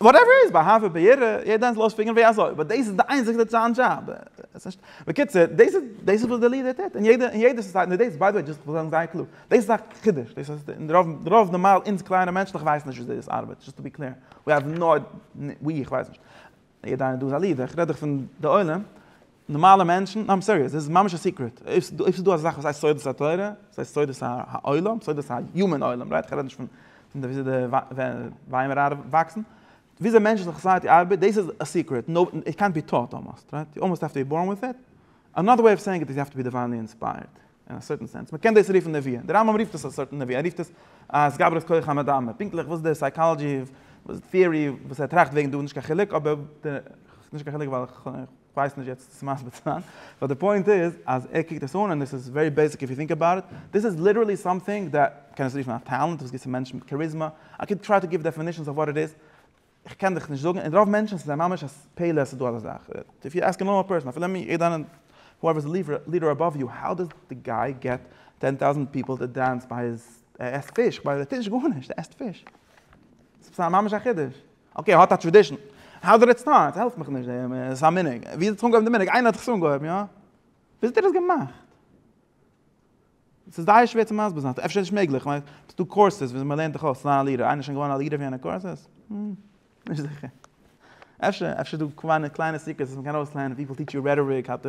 וואטעווער איז באהאוו און בעיר, יעדע איינס לאז פיגערן ווי אזוי, באט דאס איז די איינציגסטע צו זיין דזשאב. בקיצור, דאס איז דאס וואס די לידער טוט, און יעדע יעדע סאסייעטי, און דאס ביי די וועי דזשאסט כ'וויל זאגן זייער קלאר, דאס איז א חידוש, דאס אז די רוב רוב נארמאל אונז קליינע מענטשליך ווייסן נישט וויאזוי דאס ארבעט, דזשאסט טו בי קלער, ווי האוו נאו, ווי איך ווייס נישט, יעדע איינער דא איז א לידער, כ'רעד דאך פון די עולם, נארמאלע מענטשן, נאר איים סיריעס, דאס איז ממש א סיקרעט, אויב ס'איז דא אזא זאך וואס הייסט סודות התורה, ס'איז הייסט סודות העולם, סודות היומען עולם, רייט? כ'רעד נישט פון פון וויאזוי די ווייעמער ארבעט וואקסן, וויאזוי מענטשליכע סאסייעטי ארבעט, דאס איז א סיקרעט, נאובעדי, איט קענט בי טאוט אלמאסט, רייט? יו אלמאסט העוו טו בי בארן וויט איט, אנאדער וועי אוו סעיאינג איט איז יו העוו טו בי דיוויינלי אינספייערט, אין א סערטען סענס, מ'קען דאס רופן נביאה, די רמב ם רופט עס א סארט נביאה, ער רופט עס א התגברות כח המדמה, פונקטליך וואס די סייקאלאדזשי, וואס די טעארי וואס ער טראכט וועגן דא, נישט קיין חילוק, אבער נישט קיין חילוק ווייל. כ'ווייס נישט יעצט צו מסביר צו זיין, באט די פוינט איז אז ער קוקט עס אן און עס איז ווערי בעיסיק איף יו טינק אבאוט איט, דיס איז ליטערלי סאמטינג דעט, קען עס רופן א טעלענט, וואס גיבט צו מענטשן מיט קאריזמא, איי קען טריי טו גיוו דעפינישאנס אויף וואט איט איז, כ'קען דיך נישט זאגן, און רוב מענטשן ס'זיי ממש א פלא אז ס'איז דא אזא זאך, איף יו עסק א נארמאל פערסאן, אפילו מיר, יעדע איינער, הואעווער איז די לידער אבאוו יו, האו דאס די גיי געט טען טאוזענט פיפל טו דענס ביי היז, ער עסט פיש, כ'מיין ער טוט נישט גארנישט, ער עסט פיש, ס'איז ממש א חידוש. אקעי, האט א טרעדישן. האו דיד איט סטארט? העלף מיך נישט, ס'איז א מנהג. ווי איז עס אנגעהויבן די מנהג? איינער האט עס אנגעהויבן, יא? ווי האט איר עס געמאכט? ס'איז זייער שווער צו מסביר זיין, אפשר נישט מעגליך, ווייל ס'איז דא קורסעס ווי אזוי מען לערנט דיך אויס צו זיין א ליעדער, איינער איז שוין געווארן א ליעדער פון יענע קורסעס? נישט זיכער. אפשר, אפשר איז דא קליינע סיקרעטס וואס מען קען אויסלערנען, פיפל טיטש יו רעטאריק, האו טו.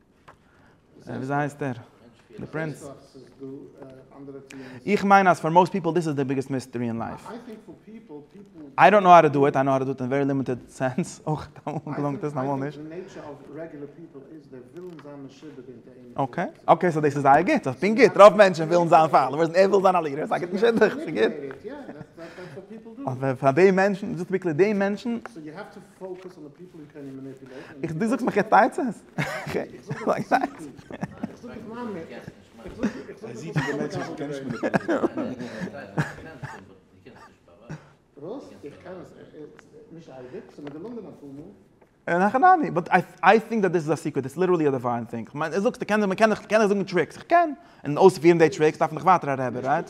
וויאזוי הייסט דער? די פרינץ? איך מיין אז פאר מאסט פיפל דיס איז די ביגעסט מיסטערי אין לייף. איי דאנט נאו האו טו דא איט, איי נאו האו טו דא איט אין ווערי לימיטעד סענס, אויך אמאל געלונגט עס און אמאל נישט. אקעי, אקעי סאו דאס איז זייער גוט, איך בין גוט, רוב מענטשן ווילן זיין פאלאווערס און ער וויל זיין א לידער, סא גיט אים שידוך, ס'גוט. אבער פאר די מענטשן, דזשאסט טו בי קלער, די מענטשן. איך דו זאגסט מיך יעצט עצות? אין הכי נמי, באט איי טינק דאט דאס איז א סיקרעט, דאס איז ליטערלי א דיוויין טינג, איך מיין, זאגסט קען מען קען קען איך זאגן טריקס, איך קען, און אויספירן די טריקס דארף מען דאך ווייטער א רבי, רייט?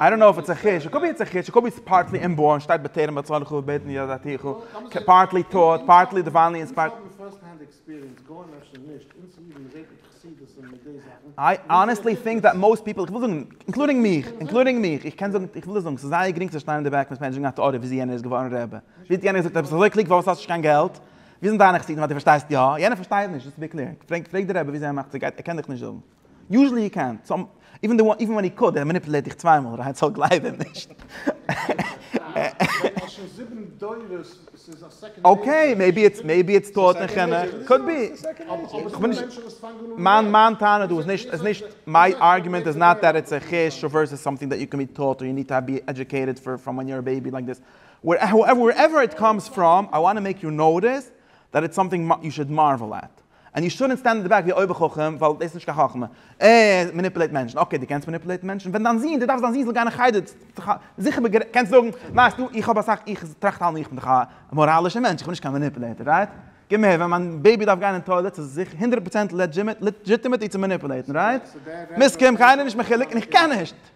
איי דאנט נאו איף איטס א חיש, קאלד בי איטס א חיש, קאלד בי איטס פארטלי אינבארן, שטייט בטרם א צאן חו בעת נהיגה דעתיך, פארטלי טאוט, פארטלי דיוויינלי אינספיירט. איי אנעסטלי טינק דעט מאסט פיפל, איך וויל זאגן, אינקלודינג מיך, אינקלודינג מיך, איך קען זאגן, איך וויל דיר זאגן, ס'איז זייער גרינג צו שטיין אין די בעק און עס מענעדזשן א טעאריע וויאזוי יענער איז געווארן רעבע, וויאזוי יענער האט געזאגט עפעס אז ער האט נישט קיין געלט, ווי זענען דיינע חסידים אז דו פארשטייסט יא, יענער פארשטייט נישט, דאס איז בי קלער. פרעג פרעג די רבי ווי זייער מאכט ס'גייט, ער קען דיך נישט זאגן. יוזשעלי הי קען, סאו איווען די איווען ווען הי קאוד, ער מאניפולעיט דיך צוויי מאל, רייט סאו גלייב אים נישט. אקעי, מעיבי איטס מעיבי איטס טעות אין חינוך, קאוד בי. כ'בין נישט, מיין מיין טענה דא איז נישט איז נישט, מיי ארגומענט איז נאט דעט איטס א חוש, אויב ווערסעס סאמטינג דעט יו קען בי טאוט, און יו ניד טו בי עדיוקעיטעד פראם ווען יו אר א בעיבי לייק דיס. Wherever it comes from, I want to make you notice that it's something you should marvel at. And you shouldn't stand in the back ווי אויבער חכם, ווייל דאס איז נישט קיין חכמה. אה, ער מאניפולעיט מענטשן. אקעי, דו קענסט מאניפולעיטן מענטשן? ווען דיין זון, דו דארפסט דיין זון זאל גיין אין חדר, זיכער בגרעניצן, קענסט זאגן, ווייסטו, איך האב אסאך, איך טראכט אלעמאל איך בין דאך א מאראלישער מענטש, איך בין נישט קיין מאניפולעיטער, רייט? געב מיר, ווען מיין בעיבי דארף גיין אין טוילעט, איז עס הונדערט פראצענט לעדזשימעט, לעדזשיטימעט איר צו מאניפולעיטן, רייט? מסכים? קיינער נישט מחולק, און איך קען נישט!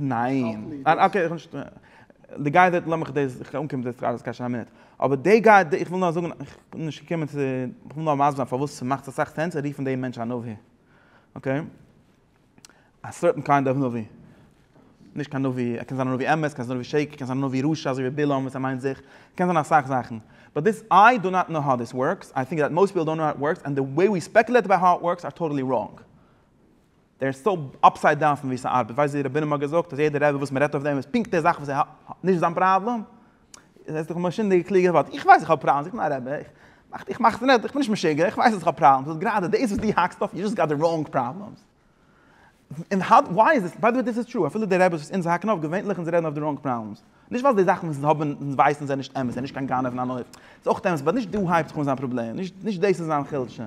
ניין, אקעי איך האב נישט, די גייער דארט לאמיך דאס איך אנקום צו די סטראשע ס'קען שיין א מינוט, אבער די גייער דארט איך וויל נאר זאגן איך בין נישט געקומען צו איך וויל נאר מסביר זיין פארוואס ס'מאכט אסאך סענס צו רופן דעם מענטש א נביא, אקעי, א סערטען קיינד אוו נביא, נישט קיין נביא ער קען זיין א נביא אמת, קען זיין א נביא שקר, קען זיין א נביא רשע אזוי ווי בלעם וואס ער מיינט זיך, קען זיין אסאך זאכן, באט דיס איי דא נאט נאו האו דיס ווארקס, איי טינק דעט מאסט פיפל דאנט נאו האו איט ווארקס, ענד די וועי ווי ספעקולעט אבאוט האו איט ווארקס אר טאטעלי ראנג. דער איז סאו אפסייד דאון פון ווי ס'ארבעט, ווייסט ווי רבינו האט געזאגט אז יעדער רבי וואס מ'רעדט אויף דעם איז פונקט די זאך וואס ער האט נישט זיין פראבלעם, איז עס דאך מאשינדיגע קלוגע ווארט, איך ווייס איך האב פראבלעמס, איך בין א רבי, איך מאך איך מאך עס נעט, איך בין נישט משוגע, איך ווייס אז איך האב פראבלעמס, וואס גראדע דאס וואס דו האקסט אויף, יו זשאסט גאט די ראונג פראבלעמס, און האו וויי איז עס, ביי די וועי דאס איז טרו, אפילו די רביס וואס אונז האקן אויף, געווענליך אונז רעדן אויף די ראונג פראבלעמס, נישט ווייל די זאכן וואס אונז האבן אונז ווייסן זענען נישט אמת, ער איז נישט קיין גנב און אן עוף, ס'איז אויך אמת, באט נישט דא הייבט זיך אן זיין פראבלעם, נישט דאס איז זיין חולשה.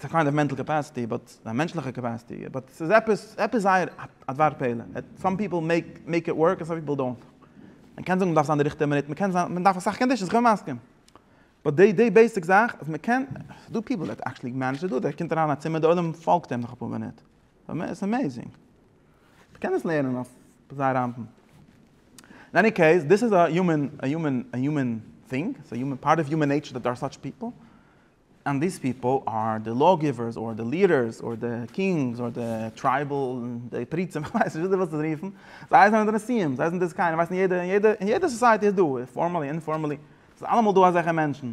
ס'איז א קיינד אוו מענטל קעפעסעטי באט א מענטשליכע קעפעסעטי באט ס'איז עפעס עפעס זייער א דבר פלא סאם פיפל מעיק מעיק איט ווארק און סאם פיפל דאנט. מ'קען זאגן מ'דארף זיין די ריכטיגע מינוט מ'קען זיין מ'דארף אסאך קאנדישאנס כ'בין מסכים באט די די בעיסיק זאך אז מ'קען ס'דא פיפל דעט עקטשעלי מענעדזש דא דער קומט אריין אין א צימער די עולם פאלגט אים נאך אפאר מינוט ס'איז אמעיזינג מ'קען עס לערנען אויף זייער אנפן. אין עני קעיס דיס איז א יומען א יומען א יומען טינג ס'איז א יומען פארט אוו יומען נעיטשער דעט דער אר סאטש פיפל אנד דיס פיפל אר די לאו גיווערס אר די ליעדערס אר די קינגס אר די טרייבעל די פריצים איך ווייס נישט וויאזוי ווילסט עס רופן זיי זענען די נשיאים זיי זענען די זקנים ווייסט אין יעדע אין יעדע אין יעדע סאסייעטי איז דא פארמעלי אינפארמעלי ס'איז אלעמאל דא אזעלכע מענטשן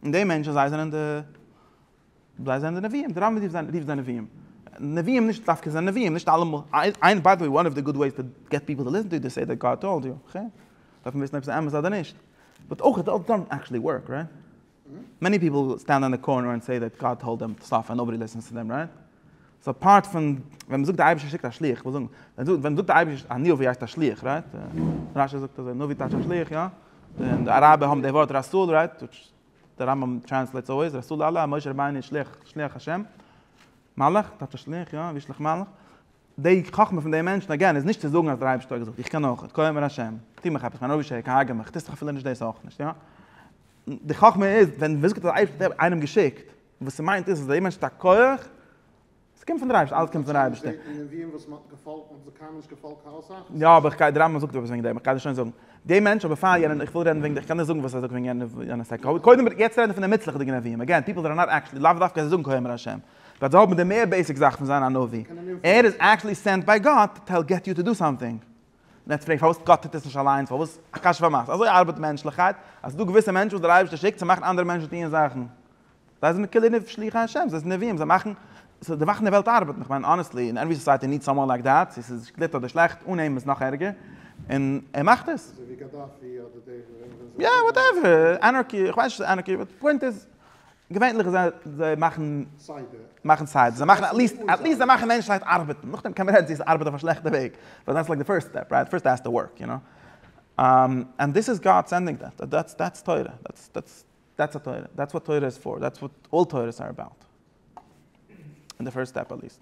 און די מענטשן זיי זענען די זיי זענען די נביאים די רמב ם רופט זיי נביאים נביאים נישט דווקא זיי נביאים נישט אלעמאל איין ביי די וועי וואן אוו די גוד וועיס טו געט פיפל טו ליסטען טו איז טו סעי דעט גאד טאלד יו אקעי דארף מען וויסן אויב ס'איז אמת אדער נישט. באט אויך איט דאזנט עקטשעלי ווארק רייט? מעני פיפל סטענד אן די קארנער און סעי דעט גאט טאלד דעם סטאף און נאבאדי ליסענס צו דעם רייט? סאו אפארט פון ווען מ'זאגט די אייבערשטער שיקט א שליח, כ'וויל זאגן ווען מ'זאגט די אייבערשטער א נביא הייסט א שליח רייט? רשי זאגט אזוי נביא טייטש א שליח יא? און די אראבער האבן די ווארט רסול רייט? וויטש די רמב ם טרענסלעיטס אלוועיס רסול אללה, משה רבינו איז שליח, שליח השם, מלאך טייטש א שליח יא? וישלח מלאך די חכמה פון די מענטשן, אגעין, איז נישט צו זאגן אז דער אייבערשטער האט געזאגט, איך קען אויך, כה אמר ה', טו מיך עפעס, מיין אויבערשטער איז קיין הרגער מיך, טוסט דאך אפילו נישט דאס אויך נישט, יא? די חכמה איז, ווען מען זאגט אז דער אייבערשטער האט איינעם געשיקט, וואס ס'מיינט איז אז דער מענטש האט א כח, עס קומט פון דער אייבערשטער, אלעס קומט פון דער אייבערשטער. יא, אבער איך גיי, דער רמב ם זאגט עפעס וועגן דעם, איך גיי דאס שוין זאגן. דער מענטש, אבער פאר יענעם, איך וויל רעדן וועגן, איך קען נישט זאגן וואס ער זאגט וועגן יענער, קודם, יעצט רעדן מיר פון די מוצלח'דיגע נביאים, אגעין, פיפל זענען נאט עקטשעלי, לאו דווקא אז זיי זאגן כה אמר ה'. דארט זאל האבן די מער בעיסיק זאך פון זיין א נביא, ער איז עקטשעלי סענט ביי גאט טעל געט יו טו דא סאמטינג, און עטס פרעגט פארוואס גאט טוט עס נישט אליינס פארוואס א קשיא פאר מאסן, אזוי ארבעט מענטשליכקייט אז ס'איז דא געוויסע מענטשן וואס דער אייבערשטער שיקט צו מאכן אנדערע מענטשן טוען זאכן, זיי זענען כולי נפש שליחי השם, זיי זענען נביאים זיי מאכן סאו די מאכן די וועלט ארבעטן, איך מיין אנעסטלי אין עווערי סאסייעטי ניד סאמאן לייק דעט, צו ס'איז גוט אדער שלעכט, אן אים איז נאך ערגער, און ער מאכט עס. אזוי ווי גאדאפי אדער די וועם זענען זיי? יא וואטעווער, אנארקי, איך ווייס נישט צו ס'איז אנארקי, באט די פוינט איז געווענליך זיי זיי מאכן מאכן סיידער זיי מאכן עטליסט עטליסט זיי מאכן מענטשהייט ארבעטן נאכדעם קען מען רעדן צו עס ארבעט אויף א שלעכטע וועג באט דעטס לייק די פירסט סטעפ רייט פירסט העסטו ווארק יו נאו ענד דיס איז גאד סענדינג דעט דעטס דעטס תורה דעטס דעטס דעטס א תורה דעטס וואט תורה איז פאר דעטס וואט אלל תורות אר עבאוט אין די פירסט סטעפ עטליסט.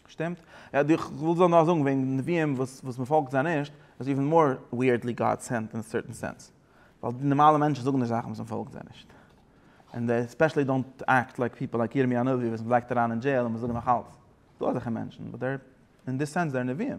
שטימט? יא דו איך וויל נאר זאגן וועגן די נביאים וואס וואס מען פאלגט זיי נישט איז איווען מאר וויערדלי גאד סענט אין א סערטען סענס ווייל די נארמאלע מענטשן זאגן נישט זאכן וואס מען פאלגט זיי נישט און דעי ספעשעלי דאנט עקט לייק פיפעל לייק ירמי' הנביא וואס מען לייגט אריין אין דזשעיל און מען זאגט נאך אלץ דא אזעלכע מענטשן באט דער אין דיס סענס דער נביאים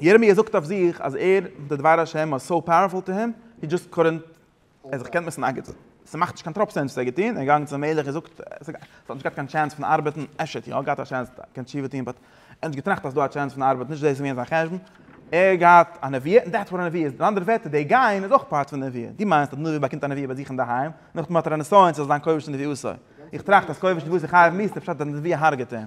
ירמיה זאגט אויף זיך אז ער, די דבר השם וואס סאו פאוערפול טו הים, הי דזשאסט קאדענט, ער האט זיך געקענט מיסן אגענטן, ס'מאכט נישט קיין טראפ סענס וואס ער האט געטון, ער איז געגאנגען צום מלך און זאגט, עס האט נישט געהאט קיין טשענס פון ארבעטן, אפשר האט יא געהאט א טשענס קען תשובה טון, באט ער האט נישט געטראכט אז ס'דא א טשענס פון ארבעטן, נישט דאס איז געווען זיין חשבון, ער האט געהאט א נביאה, און דעטס וואט א נביאה איז, אין אנדערע ווערטער די גיין איז אויך פארט פון נביאה, דו מיינסט אז נביא באקומט א נביאה ביי זיך אינדערהיים, נאכדעם האט ער א נסיון ס'זאל זיין כובש נביאותו, איך טראכט אז כובש נביאותו חייב מיתה, פשט אז די נביאה הרג'עט אים.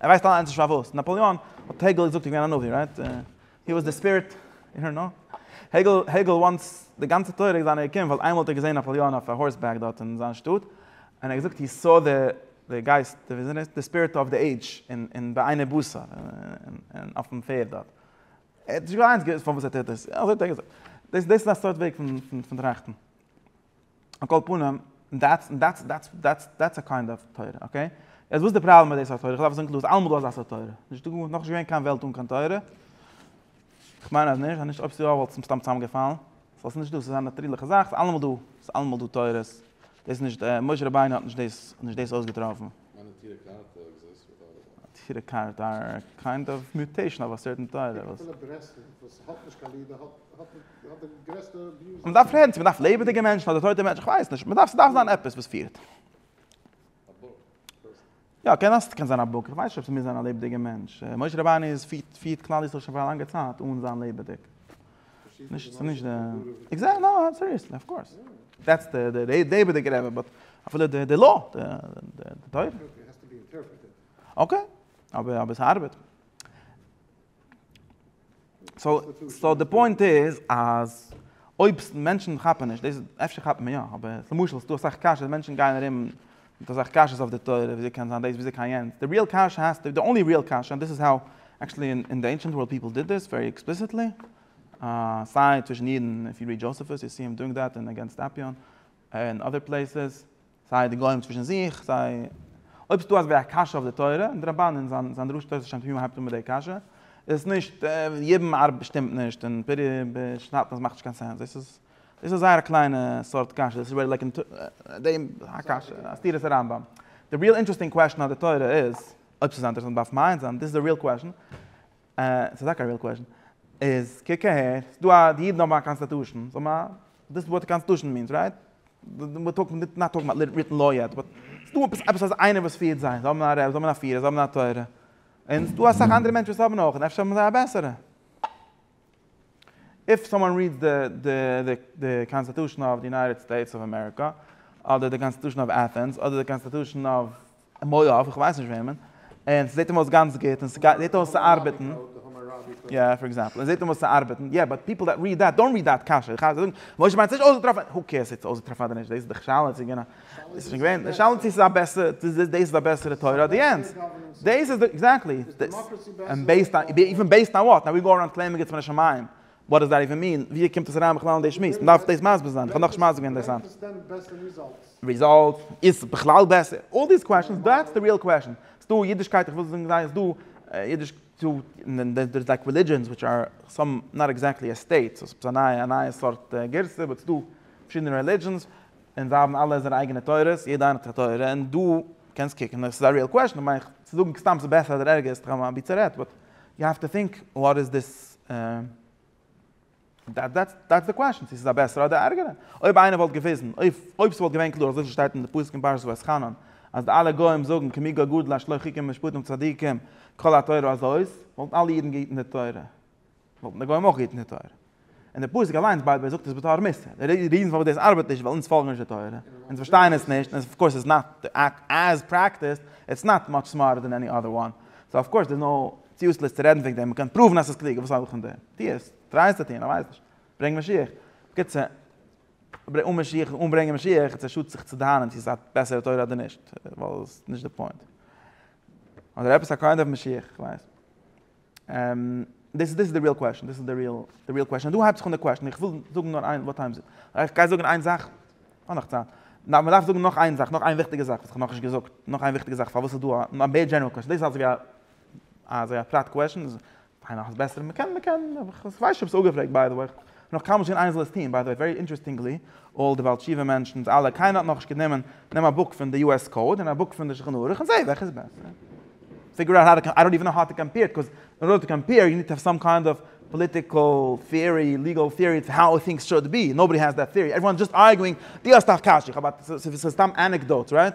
ער ווייסט אליינס נישט פארוואס. נאפאליאן האט העגעל געזאגט איז געווען א נביא, רייט? הי וואס די ספיריט, אי דאנט נאו. העגעל העגעל וואנטס די גאנצע תורה איז זיינע געקומען ווייל איינמאל האט ער געזען נאפאליאן אויף א הארס בעק דארט אין זיין שטאט, און ער האט געזאגט הי סא די די גייסט, די וויזען איז, די ספיריט אוו די עידזש אין אין בעיני בשר, אין אויפן פערד דארט. ער האט נישט געוויסט פארוואס ער טוט דאס, אזוי האט ער געזאגט. דאס דאס איז א סארט וועג פון פון טראכטן. על כל פנים, דעטס דעטס דעטס דעטס דעטס א קיינד אוו תורה, אקעי? יעצט וואס איז די פראבלעם מיט די סארט תורה? איך דארף עס זאגן קלאר, ס'איז אלעמאל דא אזא סארט תורה. נישט דא געווען, נאכנישט געווען קיין וועלט אן קיין תורה. איך מיין אז נישט, אז נישט, אויב ס'איז יא וואלט עס סתם צוזאמגעפאלן. סאו ס'נישט דא, ס'איז א נאטרירליכע זאך, ס'איז אלעמאל דא, ס'איז אלעמאל דא תורות. דאס איז נישט, משה רבינו האט נישט דאס, נישט דאס אויסגעטראפן. נטורי קרתא אר קיינד אוו מיוטעישן אוו א סערטען תורה. מען דארף רעדן צו מען דארף לעבעדיגע מענטשן אדער טויטע מענטשן, כ'ווייס נישט, מען דארף ס'דארף זיין עפעס וואס פירט. יא, קען זיין ס'קען זיין א בוק, כ'ווייס נישט אויב ס'מוז זיין א לעבעדיגע מענטש, משה רבנו איז פירט פירט כלל ישראל שוין פאר א לאנגע צייט אן זיין לעבעדיג. נישט ס'איז נישט די עקזעקט נא סיריעסלי אף קאורס. דעטס די די די לעבעדיגע רבי באט אפילו די די לא די די תורה. אקעי, אבער אבער ס'ארבעט. סאו סאו די פוינט איז אז אויב מענטשן כאפן נישט דאס אפשר כאפן מען יא אבער למשל ס'דא אסאך קשיות מענטשן גייען ארום מיט אסאך קשיות אויף די תורה וויאזוי קען זיין דאס וויאזוי קען יענץ די ריעל קשיא האסטו די אנלי ריעל קשיא און דאס איז האו עקטשעלי אין די ענשענט ווארלד פיפל דיד דעס ווערי עקספליסיטלי סיי צווישן אידן איף יו ריעד דזשאסעפוס יו סי הים דואינג דעט און אגענסט אפיאן און אדער פלעיסעס סיי די גוים צווישן זיך, סיי אויב ס'איז דא אזווי א קשיא אויף די תורה, און דער רמבן אין זיין זיין דרשת תוס' שם תמים הייבט אן מיט די קשיא, איז עס נישט, יבם ארבע שטימט נישט, און פרי בשנתן עס מאכט נישט קיין סענס, דאס איז דאס איז זייער א קליינע סארט קשיא, דאס איז ווערט לייגן דעם א קשיא, א סתירת הרמבם. די ריעל אינטרעסטינג קוועשן אויף די תורה איז, אויב ס'איז אינטערעסאנט דארף מיינס זיין, דיס איז די ריעל קוועשן, ס'איז טאקע א ריעל קוועשן. איז קוק אהער, ס'איז דא א, די אידן האבן א קאנסטעטושן, זיי האבן א, דאס איז וואט די קאנסטעטושן מינס, רייט? וויר טאלקינג, וויר נאט טאלקינג אבאוט ריטן לאו יעט, באט ס'איז דא עפעס, עפעס אזא איינער וואס פירט זיי, זיי האבן א רב, זיי האבן א פירער, זיי האבן א תורה. און ס'איז דא אסאך אנדערע מענטשן וואס האבן אויך, און אפשר האבן זיי א בעסערע. איף סאמאן ריעדס די, די, די, די קאנסטעטושן אוו די יונייטעד סטעיטס אוו אמעריקא, אדער די קאנסטעטושן אוו עטענס, אדער די קאנסטעטושן אוו מויאוו, איך ווייס נישט וועמען, און ס'זעט אים אויס גאנץ גוט, און ס'גייט, זעט אויס צו ארבעטן, יא, פאר עקזעמפל, און זעט אים אויס צו ארבעטן, יא, באט פיפל דעט ריעד דעט, דאנט ריעד דעט קשיא, איך הייב זאגן, משה מיינט ס'נישט אויסגעטראפן, הו קעירס צו ס'איז אויסגעטראפן אדער נישט, דאס איז דאך שאלה צו גענוי, דאס איז שוין געווען, די שאלה צו ס'איז א בעסערע, צו דאס איז א בעסערע תורה אדער יענץ, דאס איז די, עקזעקטלי, דאס, און בעיסד אן, איווען בעיסד אן וואט, נאו ווי גאו אראונד קלעימינג איטס מן השמים, וואט דאס דאט איווען מין? ווי קומט עס אריין בכלל אין די שמועס? מ'דארף דאס מסביר זיין, איך האב נאך נישט מסביר געווען דאס היינט. וועלכע סיסטעם בעסער ריזאלטס? ריזאלטס? איז בכלל בעסער? אלל דיס קוועשאנס, דעטס די ריעל קוועשאן. ס'איז דא אידישקייט, איך וויל זאגן זיי, ס'איז דא אידיש צו, און דער איז לייק רעלידזשענס וויטש אר סאם נאט עקזעקטלי א סטעיט, סאו ס'איז א נייע סארט גירסא, באט ס'איז דא פארשידענע רעלידזשענס, און זיי האבן אלע זייערע אייגענע תורות, יעדע איינע האט זיך א תורה, און דא קענסט קוקן, און עס איז א ריעל קוועשאן, כ'מיין צו זאגן סתם ס'איז בעסער אדער ערגער איז סתם אבי צערעדט, באט יו העוו טו טינק וואט איז דיס דעטס די קוועשאן, צו ס'איז א בעסערע אדער א ערגערע. אויב איינער וואלט געוויזן, אויב ס'וואלט געווען קלאר אזויווי ס'שטייט אין די פסוק אין פרשת ואתחנן, אז די אלע גוים זאגן כמי גוי גדול אש לא חיכם משפטים צדיקים כל התורה הזאת, וואלטן אלע אידן געהיטן די תורה, וואלטן די גוים אויך געהיטן די תורה. און די פסוק אליינס ביי ב זאגט עס בתור מוסר. די ריזן פארוואס דאס ארבעט נישט איז ווייל אונז פאלגן נישט די תורה, אונז פארשטייען עס נישט, און אףקאורס איטס נאט, עז פרעקטיסד, איטס נאט מאטש סמארטער דען עני אדער וואן. סאו אףקאורס דער'ס נאו ציוסלעס צו רעדן וועגן דעם, מ'קען פראוון אז ס'איז קלוגער, וואס האב איך פון דעם? טו עס, טריי עס צו טון, איך ווייס נישט. ברענג משיח. בקיצור, אן משיח אן ברענגען משיח, איז פשוט זיך צו דאהנען צו ס'איז א בעסערע תורה אדער נישט, ווייל עס איז נישט די פוינט. אדער עפעס א קאינד אוו משיח, איך ווייס. דאס איז די ריעל קוועסשאן, דאס איז די ריעל, די ריעל קוועסשאן. און דא הייבט זיך אן די קוועסשאן, איך וויל זאגן נאר איין, וואט טיים איז איט? איך גיי זאגן איין זאך, כ'האב נאך צייט. נאר מ'דארף זאגן נאך איין זאך, נאך איין וויכטיגע זאך וואס כ'האב נאכנישט געזאגט, נאך איין וויכטיגע זאך פארוואס איז דא א, א מער דזשענעראל קוועסשאן, דאס איז אלס ווי א אז זיי אפרייט קוועשען איז פיין נאך איז בעסער מען קען מען קען אבער איך ווייס נישט אויב ס'איז אפגעפרעגט ביי די וועי איך נאך קיינמאל נישט געזען איינער זאל עס טוהן ביי די וועי ווערי אינטערעסטינגלי אלל די בעל תשובה מענטשענס אלע קיינער האט נאכנישט גענומען נעם א בוק פון די יו עס קאוד און א בוק פון די שולחן ערוך און זעה וועלכע איז בעסער פיגור אוט האו טו איי דאנט איווען נאו האו טו קאמפעיר איט קאוז אין ארדער טו קאמפעיר יו ניד טו האוו סאם קיינד אוו פאליטיקעל טעארי ליגעל טעארי אויף האו טינגס שוד בי נאובאדי העז דעט טעארי עוועריוואן איז דזשאסט ארגואינג די האסט א קשיא איך האב א ס'איז סתם ענעקדאוטס רייט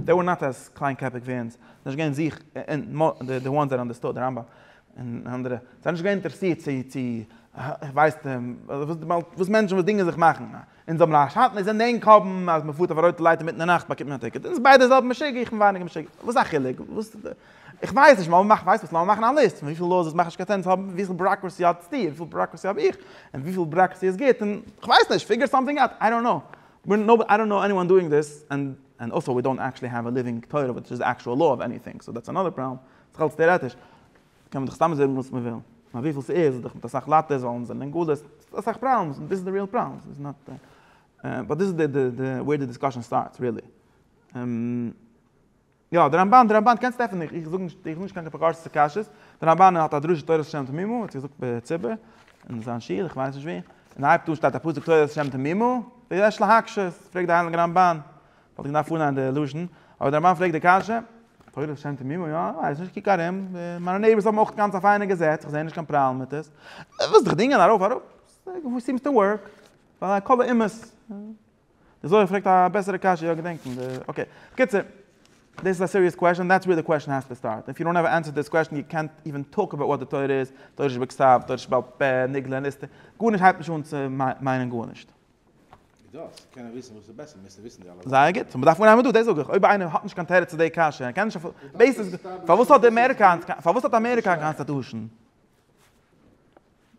דעי ווער נאט עז קליינקעפיג ווי אונז, זיי זענען נישט געווען זיך אין די וואנס דעט אנדערסטוד די רמב ם און אנדערע, זיי זענען נישט געווען אינטערעסירט צו צו ווייסט וואס מענטשן וואס דינגען זיך מאכן, אונז האבן א שאטן אונז זענען ענק האבן אז מען פארט אויף א רויטע לייט אינמיטן די נאכט באקומט מען א טיקעט, אונז ביידע זעלבע משוגע איך בין ווייניגער משוגע, וואס איז א חילוק וואס איך ווייס נישט לאמיר מאכן ווייסט וואס לאמיר מאכן א ליסט פון וויפיל לאוס עס מאכט נישט קיין סענס האבן וויפיל בראקרעסי האטסטו און וויפיל בראקרעסי האב איך און וויפיל בראקרעסי איז גוט און כ'ווייס נישט פיגור סאמטינג אוט איי דאנט קנאו. וויר נאו אי דאנט נאו עניוואן דואינג דיס, ענד ענד אלסא וויר דאנט עקשעלי העוו א ליווינג תורה וויטש איז עקשועל לאו אוו עניטינג, סאו דעטס אנאדער פראבלעם, זיך אלץ טעארעטיש קען מען דאך סתם זאגן וואס מען וויל, נאר וויפיל ס'איז איז דאך מיט אסאך לייטערס ווייל אונז זענען אין גלות, ס'איז אסאך פראבלעמס און דיס איז די ריעל פראבלעם, ס'איז נאט באט דיס איז די די די וועיר די דיסקאשען סטארטס ריעלי. יא, די רמבן, די רמבן, קענסט עפענען, איך זאג נישט, איך זאג נישט קיין אפיקורס'ע קשיות, די רמבן האט א דרשה תורת השם תמימה, האט זיך געזאגט בציבור, אין זיין שול, איך ווייס נישט ווי, און הייבט אן שטייט א פסוק תורת השם תמימה, ויש להקשות, פרעגט די הייליגע רמבן, וואלט איך געדארפט פארליינען די לשון, אבער די רמבן פרעגט די קשיא, תורת השם תמימה, יא, איך ווייס נישט, קוק ארום, מיינע נעיבערס האבן אויך גאנץ א פיינע געזעץ, איך זע נישט קיין פראבלעם מיט עס, איך וועל זיך דינגען ארויף אראפ, סימס טו ווארק, ווייל הכל לאומות. די זוהר פרעגט א בעסערע קשיא, יא געדענק פון די, אקעי. בקיצור, דאס איז א סיריעס קוועשאן, דעטס וועיר די קוועשאן העז טו סטארט. איף יו דאנט האוו ענסער דיס קוועשאן יו קענט איווען טאלק אבאוט וואט די תורה איז, תורה שבכתב, תורה שבעל פה, נגלה, נסתר, גארנישט הייבט נישט אן צו מיינען גארנישט. ווי דאס? קענען וויסן וואס איז בעסער מוזט דו וויסן די אלע זייער גוט, מ'דארף אנהייבן דא, דאס זאג איך, אויב איינער האט נישט קיין תירוץ צו די קשיא, ער קען נישט, בעיס איז, פארוואס האט אמעריקא היינט, פארוואס האט אמעריקא א קאנסטעטושען?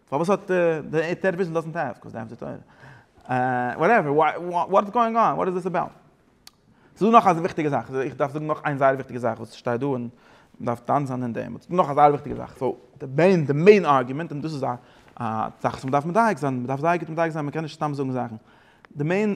פארוואס האט די טעלעוויזיאן דאזענט העוו קאוז דעם טויטער וואטעווער וואט איז גאוינג אן וואט איז דיס אבאוט ס'דא נאך א וויכטיגע זאך איך דארף זאגן נאך איין זייער וויכטיגע זאך וואס שטייט דא און מ'דארף דן זיין אין דעם נאך א זייער וויכטיגע זאך סאו די מעין די מעין ארגומענט און דאס איז א זאך וואס מ'דארף מדייק זיין מ'דארף זייער גוט מדייק זיין מ'קען נישט סתם זאגן זאכן די מעין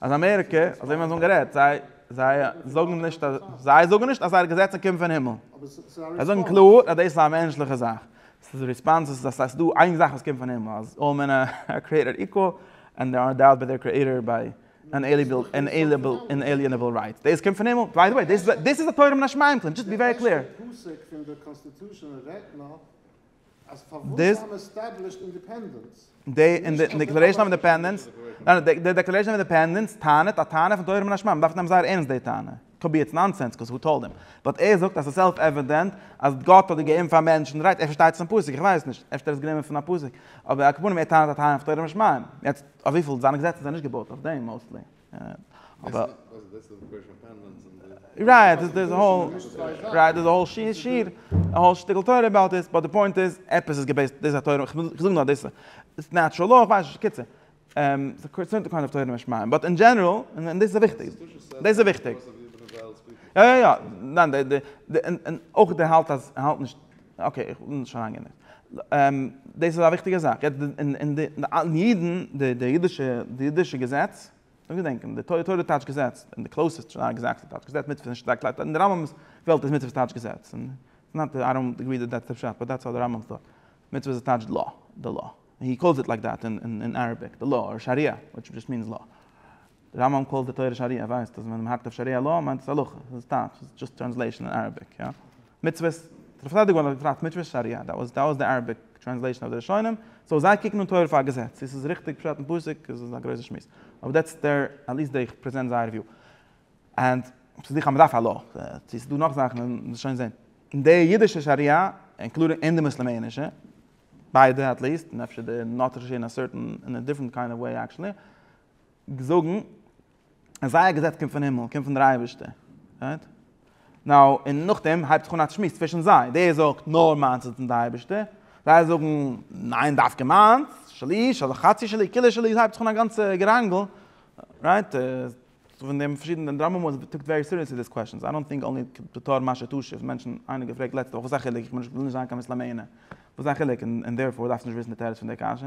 אז אמעריקע, אזוי ווי מיר האבן גערעדט, זיי זיי זאגן נישט אז זיי זאגן נישט אז זייערע געזעצן קומען פון הימל. זיי זאגן קלאר אז דאס איז א מענטשליכע זאך. עס איז ריספאנס אז עס איז דא איין זאך וואס קומט פון הימל, אז אלל מען אר קריעטעד איקוואל, ענד זיי אר ענדאוד ביי דער קריעטער ביי אינעליענעבל רייטס. דאס קומט פון הימל. ביי די וועי, דאס איז א תורה מן השמים קלעים, דזשאסט בי ווערי קלעיר. דיס דעי און די דעקלערעישאן אוו אינדעפענדענס ניין די דעקלערעישאן אוו אינדעפענדענס טענה'ט א טענה פון תורה מן השמים מען דארף נעמען זייער ערנסט די טענה קאוד בי איטס נאנסענס קאוז הו טאלד אים באט ער זאגט אז ס'איז סעלף עווידענט אז גאט האט געגעבן פאר מענטשן רייט ער פארשטייט עס פון פסוק איך ווייס נישט אפשר ער האט עס גענומען פון א פסוק אבער על כל פנים ער טענה'ט א טענה פון תורה מן השמים יעצט אויף וויפיל זיינע געזעצן זענען נישט געבויט אויף דעם מאוסטלי. אבער. רייט דעס איז האול. רייט דעס איז האול שיר שיר. א האול שטיקל תורה אבאוט דעס. באט די פוינט איז עפעס איז געבעיסט. דאס איז א תורה. כ'וויל זאגן נאר דאס איז נעטשרעל לאו. כ'ווייס נישט. קיצור. ס'איז קיינד אוו תורה משמים. באט אין דזשענעראל. און דאס איז וויכטיג. דאס איז וויכטיג. יא יא יא. ניין די. און אויך דער האלט אז. ער האלט נישט. אקעי, איך בין נישט אריינגענער'ט. דאס איז א וויכטיגע זאך. יעצט, און די אידן, די אידישע, די אידישע געזעץ, דאס געדענקען, די תורה תורה טייטש געזעץ, און די קלויז איז שטארק געזאגט אז טייטש געזעץ, מצוה איז נישט שטארק לייט, אין די רמבם'ס וועלט איז מצוה טייטש געזעץ, און נאט דעט, איי דאנט עגרי דעט דעטס די פשט, באט דעטס האו די רמבם טאלק. מצוה איז טייטש לאו, די לאו. הי קאלס איט לייק דעט אין אראביק, די לאו, אר שאריא, וויטש דזשאסט מינס לאו. די רמב ם קול תורה שריעה ווייסט אז ווען מ'האקט אויף שריעה לאו מיינט עס הלכה, עס איז טייטש, עס איז דזשאסט טרענסלעישאן אין אראביק, יא. מצוות, דער פארטיידיגער וואלט געטראכט מצוות שריעה, דעט וואס דעט וואס די אראביק טרענסלעישאן אויף די ראשונים, סאו זיי קוקן אן תורה פאר א געזעץ, צו עס איז ריכטיג פשט אין פסוק איז א גרויסע שמועס, אבער דעטס דער, עטליעסט די איך פרעזענט זייער וויו. ענד ס'איז זיכער אז מ'דארף א לאו, צו ס'איז דא נאך זאכן וועלן מיר שוין זעהן. אין די אידישע שריעה, אינקלודינג אין די מוסלעמענישע, ביידע עטליעסט, און אפשר די נאטרישע אין א סערטען, אין א דיפרענט קיינד אוו וועי עקשעלי, זאגן אז זייער געזעץ קומט פון הימל, קומט פון דער אייבערשטער, רייט? נאו, און נאכדעם הייבט זיך אן א צשמועס צווישן זיי, דער זאגט נאר מיינס איז פון דער אייבערשטער, זיי זאגן ניין דווקא מיינס, שלי, של חצי שלי, כולו שלי, ס'הייבט זיך אן א גאנצע געראנגל, רייט? פון דעם פארשידענע און דער רמב ם האט טעקט ווערי סיריעסלי דיס קוועשאנס, איי דאנט טינק אנלי בתור מה שתשיב, מענטשן, איינער האט געפרעגט לעצטע וואך וואס איז א חילוק, איך בין נישט, וויל נישט זיין קיין מוסלאמענער, וואס איז א חילוק, און דערפאר דארפסטו נישט וויסן די תירוץ פון דער קשיא?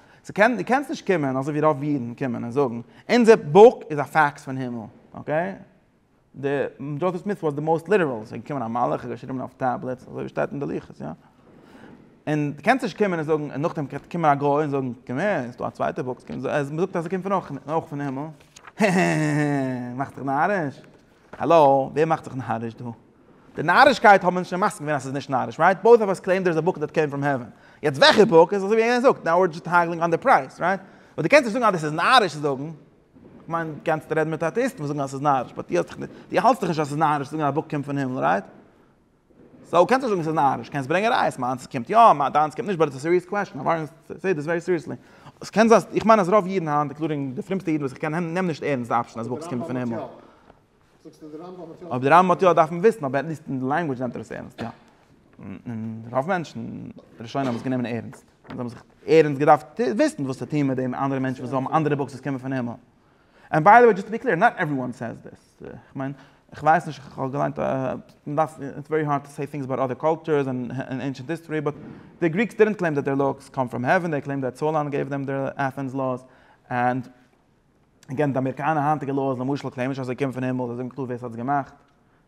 ס'איז קען דו קענסט נישט קומען אזוי ווי רוב אידן קומען און זאגן אונזער בוק איז א פאקס פון הימל אקעי די דזשאסעף סמיט וואס די מאוסט ליטערעל ס'איז געקומען א מלאך און געשריבן אויף טעבלעטס אזוי ווי שטייט אין די לוחות יא און דו קענסט נישט קומען און זאגן און נאכדעם קען קומען א גוי און זאגן קום הער ס'איז דא א צווייטע בוק ס'קומט מ'זאגט אז ס'קומט פון אויך פון הימל הע הע הע הע הע מאכסט דיך נאריש. האלא, ווער מאכט זיך נאריש דא? די נארישקייט האבן אונז שוין מסכים געווען אז ס'איז נישט נאריש, רייט? בויס אף אס קלעים דער איז א בוק דעט קעים פראם העווען. יעצט וועלכע בוק? איז אזוי ווי איינער זאגט, נאו ווער דזשאסט האגלינג אן די פרייז, רייט? אבער דו קענסט נישט זאגן אז דאס איז נאריש צו זאגן. כ'מיין, דו קענסט רעדן מיט אטעאיסטן וואס זאגן אז ס'איז נאריש, באט דו האלסט דאך נישט אז ס'איז נאריש צו זאגן אז א בוק קומט פון הימל, רייט? סאו קענסט נישט זאגן ס'איז נאריש, קענסט ברענגען ראיות, מיינס קומט יא, דיינס קומט נישט, באט ס'איז א סיריעס קוועסטשן, א ווארענט טו טעיק דיס ווערי סיריעסלי. עס קען זיין, איך מיין אז רוב אידן היינט, אינקלודינג די פרומסטע אידן וואס איך קען, נעמען נישט ערנסט די אפשען אז בוכס קומט פון הימל. אויב די רמב ם האט יא דארף מען וויסן, אבער עטליסט אין די לענגווידזש נעמט ער עס ערנסט, יא. און רוב מענטשן, די ראשונים האבן עס גענומען ערנסט. זיי האבן זיך ערנסט געדארפט וויסן וואס צו טון מיט דעם אנדערע מענטשן וואס האבן אנדערע בוקס וואס קומען פון הימל. ענד ביי די וועי, דזשאסט טו בי קלעיר, נאט עוועריוואן סעיז דיס. כ'מיין, כ'ווייס נישט, כ'האב געליינט, מ'דארף, איטס ווערי הארד טו סעי טינגס אבאוט אדער קולטורס און ענשענט היסטארי, באט די גריקס דידנט קלעים דעט דער לאוס קאם פראם העווען, דעי קלעים דעט סאלאן געיוו דעם דער עטענס לאוס, ענד עגעין, די אמעריקאנע היינטיגע לאוס למשל קלעימען נישט אז זיי קומען פון הימל, זיי זאגן קלאר ווער ס'האט עס געמאכט,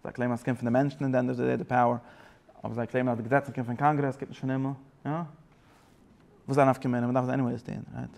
זיי קלעימען אז ס'קומט פון די מענטשן און דען ענד אוו די דעי די פאוער, אבער זיי קלעימען אז די געזעצן קומען פון קאנגרעס, קומט נישט פון הימל, יא? וואס איז א נפקא מינה, מ'דארף עס עניוועיס טון, רייט?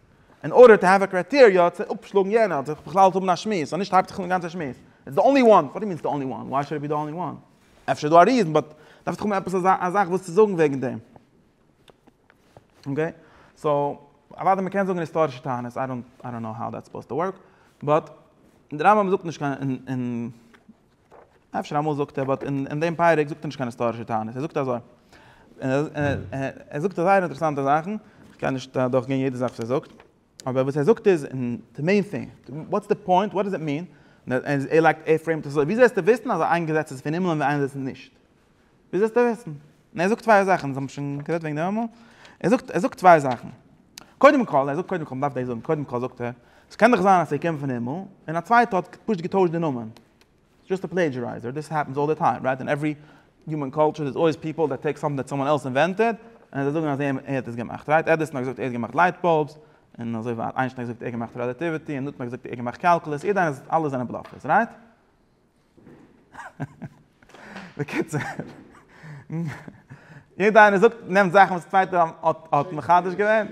אין ארדער טו העוו א קרייטעריע צו אפשלאגן יענער אדער זיך בכלל צו האבן א שמועס אז נישט הייבט זיך אן די גאנצע שמועס איטס די אנלי וואן וואט די מינס די אנלי וואן וויי שאד איט בי די אנלי וואן אפשר איז דא א ריזען באט דארף דאך האבן עפעס א זאך וואס צו זאגן וועגן דעם אקעי סאו אוואדע מ'קען זאגן היסטארישע טענות איי דאנט איי דאנט נאו האו דעטס סופאוזד טו ווארק באט דער רמב ם זאגט נישט קיין אין אין אפשר אמאל זאגט ער, באט אין דעם פרק זאגט ער נישט קיין היסטארישע טענות, ער זאגט אזוי, ער זאגט זייער אינטערעסאנטע זאכן, כ'קען נישט אדורך גיין יעדע זאך וואס ער זאגט, אבער וואס ער זאגט איז, די מעין טינג, וואטס די פוינט, וואט דאס איט מין, ער לייגט ער פרעימט עס אזוי, וויאזוי וועסטו וויסן אז איין געזעץ איז פון הימל און איינס איז נישט? ווי זאלסטו וויסן? און ער זאגט צוויי זאכן, אונז האבן שוין גערעדט וועגן דעם אמאל, ער זאגט, ער זאגט צוויי זאכן, קודם כל, ער זאגט קודם כל, מ'דארף דאס זאגן, קודם כל זאגט ער, ס'קען דאך זיין אז ס'געקומען פון הימל, און א צווייטער האט פשוט געטוישט די נאמען, זשאסט א פלעידזשערייזער, דיס העפענס אלל די טיים, רייט, אין עוורי יומען קולטשער דער'ס אלוועיס פיפעל דעט טעיק סאמטינג דעט סאמאן עלס אינווענטעד, און זיי זאגן אז ער האט עס געמאכט, רייט, עדיסאן האט געזאגט ער האט געמאכט לייט באלבס, און אזוי ווייטער, איינשטיין האט געזאגט ער האט געמאכט רעלאטיוויטי, און ניוטאן האט געזאגט ער האט געמאכט קאלקולוס, יעדער איינער זאגט אלעס זענען בלאפערס, רייט? בקיצור, יעדער איינער זאגט נעמט זאכן וואס צווייטער האט מחדש געווען,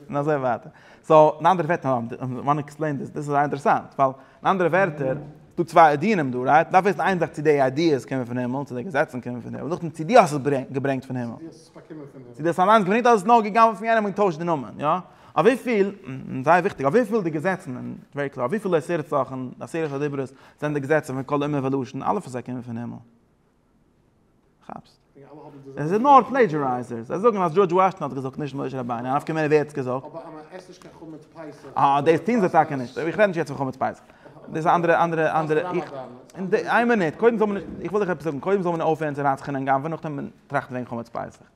און אזוי ווייטער. סאו, אין אנדערע ווערטער, וואנט עקספלעין דיס, דאס איז זייער אינטערעסאנט, ווייל אין אנדערע ווערטער, ס'דא צוויי עדינים דא, רייט? מ'דארף וויסן איין זאך צו די איידיעס קומען פון הימל, צו די געזעצן קומען פון הימל, נאכדעם צו דו האסט עס געברענגט פון הימל. צו דו האסט עס אליינס געברענגט אדער ס'איז נאר געגאנגען פון יענעם און געטוישט די נאמען, יא? אויף וויפיל, און זייער וויכטיג, אויף וויפיל די געזעצן, און ווערי קלאר, אויף וויפיל עשרת זאכן, די עשרת הדיברות, זענען די געזעצן פון כל אומה ולשון, אלע פון זיי קומען פון הימל. כאפסט? זיי זענען נאר פלעדזשערייזערס. זיי זאגן אז דזשארדזש וואשינגטאן האט געזאגט, נישט משה רבינו, נפקא מינה ווער האט עס געזאגט. אה, דאס טוען זיי טאקע נישט. איך רעד נישט יעצט פון חמץ פסח. דאס איז אנדערע, אנדערע, אנדערע, איך, איין מינוט, קודם זאל מען, איך וויל דיך עפעס זאגן, קודם זאל מען אויפהערן צו רצח'ענען גנב'ען, נאכדעם טראכטן וועגן חמץ פסח.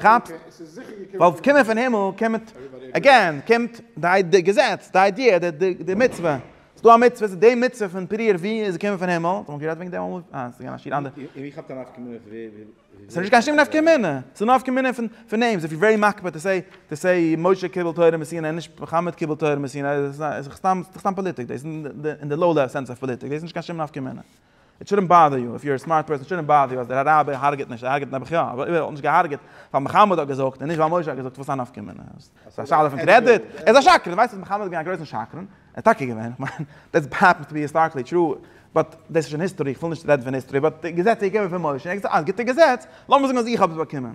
כאפסט? ווייל ס'קומען פון הימל קומט, עגעין, קומט די געזעץ, די איידיע, די מצוה. ס'דא א מצוה, ס'איז די מצוה פון פריער, ווי איז געקומען פון הימל? האט מען גערעדט וועגן דעם אמאל? אה, ס'געווען א שיעור אנדערש. און ווי כאפט א נפקא מינה פון ווער ווי. ס'איז נישט קיין שום נפקא מינה. ס'איז נפקא מינה פון פון נעימס. איף יו ווערי מקפיד טו סעי, טו סעי משה קיבל תורה מסיני און נישט מוחמד קיבל תורה מסיני, איז דאך סתם, ס'איז דאך סתם פאליטיק דאס. אין די לאו לעוועל סענס אוו פאליטיק. דאס איז נישט קיין שום נפקא מינה. איט שודנט באדער יו, איף יו אר א סמארט פערסאן שודנט באדער יו אז דער רבי הארגעט נישט, ער הארגעט נעבעך יא, אבער אויב ער האט נישט געהארגעט ווייל מוחמד האט געזאגט און נישט ווייל משה האט געזאגט וואס א נפקא מינה, ס'איז א שאלה פון קרעדיט, ער איז א שקרן, ווייסט אז מוחמד איז געווען א גרויסן שקרן, ער איז טאקע געווען, איך מיין דעטס העפענס טו בי היסטאריקלי טרו, באט דאס איז שוין היסטארי איך וויל נישט רעדן פון היסטארי, באט די געזעץ איז געווען פון משה, ער האט געזאגט אז גוטע געזעץ, לאמיר זאגן אז איך האב עס באקומען.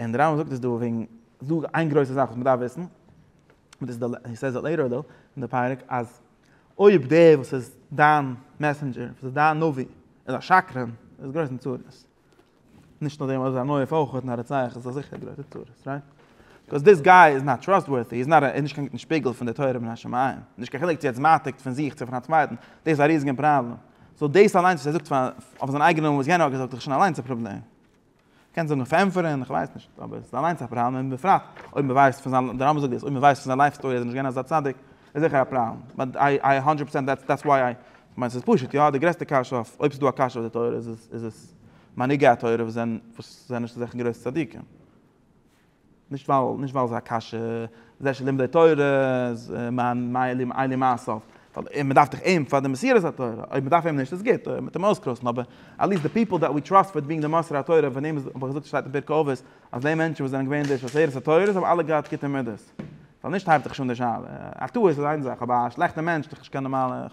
און די רמב ם זאגט עס דא וועגן זאג איין גרויסע זאך וואס מען דארף וויסן, הי סעיז איט לעיטער דא אין די פרק אז אויב דער וואס איז דיין מעסענדזשער, וואס איז דיין נביא, איז א שקרן, איז גרויס אין צרות. נישט נאר דעם אויב איז א מויף אויך און א רוצח איז עס זיכער אין גרויסע צרות, רייט? ביקאוז דיס גיי איז נאט טראסטווארטי, איז נאט א, איז נישט קיין גוטן שפיגל פון די תורה מן השמים, נישט קיין חילוק צו ער האט עס מעתיק פון זיך צו פון א צווייטן, דאס איז א ריזיגן פראבלעם. סאו דאס אליינס וואס ער זאגט אויף זיין אייגענעם און וואס יענער האט געזאגט איז דאך שוין אליינס א פראבלעם. קענסט זאגן אויף ענטפערן, איך ווייס נישט, אבער עס איז אליינס א פראבלעם און בפרט אויב מען ווייסט פון זיין, די רמב ם זאגט דאס, אויב מען ווייסט פון זיין לייף סטארי אז ער איז נישט געווען אזא צדיק, איז זיכער א פראבלעם, באט איי איי האנדרעט פערסענט דעטס דעטס וויי איי, כ'מיין ס'איז פשוט, יא, די גרעסטע קשיא אויף, אויב ס'איז דא א קשיא אויף די תורה איז עס איז עס מנהיגי התורה וואס זענען וואס זענען נישט אזעלכע גרויסע צדיקים. נישט ווייל נישט ווייל ס'איז א קשיא, זה שלומדי תורה איז מיין מעלים עיני מעשיו, ווייל מ'דארף דאך אים פאר די מסירת התורה, אויב מ'דארף אים נישט איז גוט, אויב מ'טאר אים אויסקראסן, אבער עטליעסט די פיפל דעט ווי טראסט פאר בינג די מוסר התורה פון אים האב איך געזאגט שטייט אין פרקי אבות אז די מענטשן וואס זענען געווען די שושלת התורה האבן אלע געהאט גוטע מידות, ווייל נישט הייבט זיך שוין די שאלה, א טעות איז איין זאך אבער א שלעכטע מענטש איז דאך נישט קיין נארמאלע,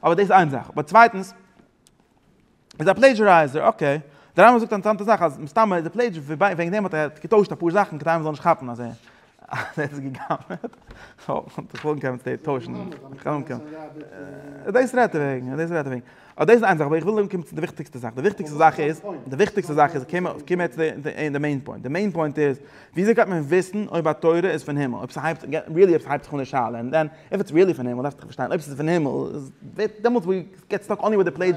אבער דאס איז איין זאך, אבער צווייטנס. איז א פלעידזשערייזער, אקעי. דער רמב ם זאגט א אינטערעסאנטע זאך אז מסתמא איז ער פלעידזשער וועגן דעם האט ער געטוישט אפאר זאכן כדי מ'זאל נישט כאפן אז ער האט עס גע'גנב'ט. דאס רעדט ער וועגן, דאס רעדט ער וועגן. אבער דאס איז איין זאך, אבער איך וויל אנקומען צו די וויכטיגסטע זאך. די וויכטיגסטע זאך איז, די וויכטיגסטע זאך איז, קום קום מיר צו די די מעין פוינט. די מעין פוינט איז, וויאזוי קען מען וויסן אויב א תורה איז פון הימל? אויב ס'הייבט, ריעלי אויב ס'הייבט זיך אן די שאלה. און דען, איף איטס ריעלי פון הימל דארף איך פארשטיין, אויב ס'איז פון הימל, דעמאלטס געטס סטאק אנלי וויט די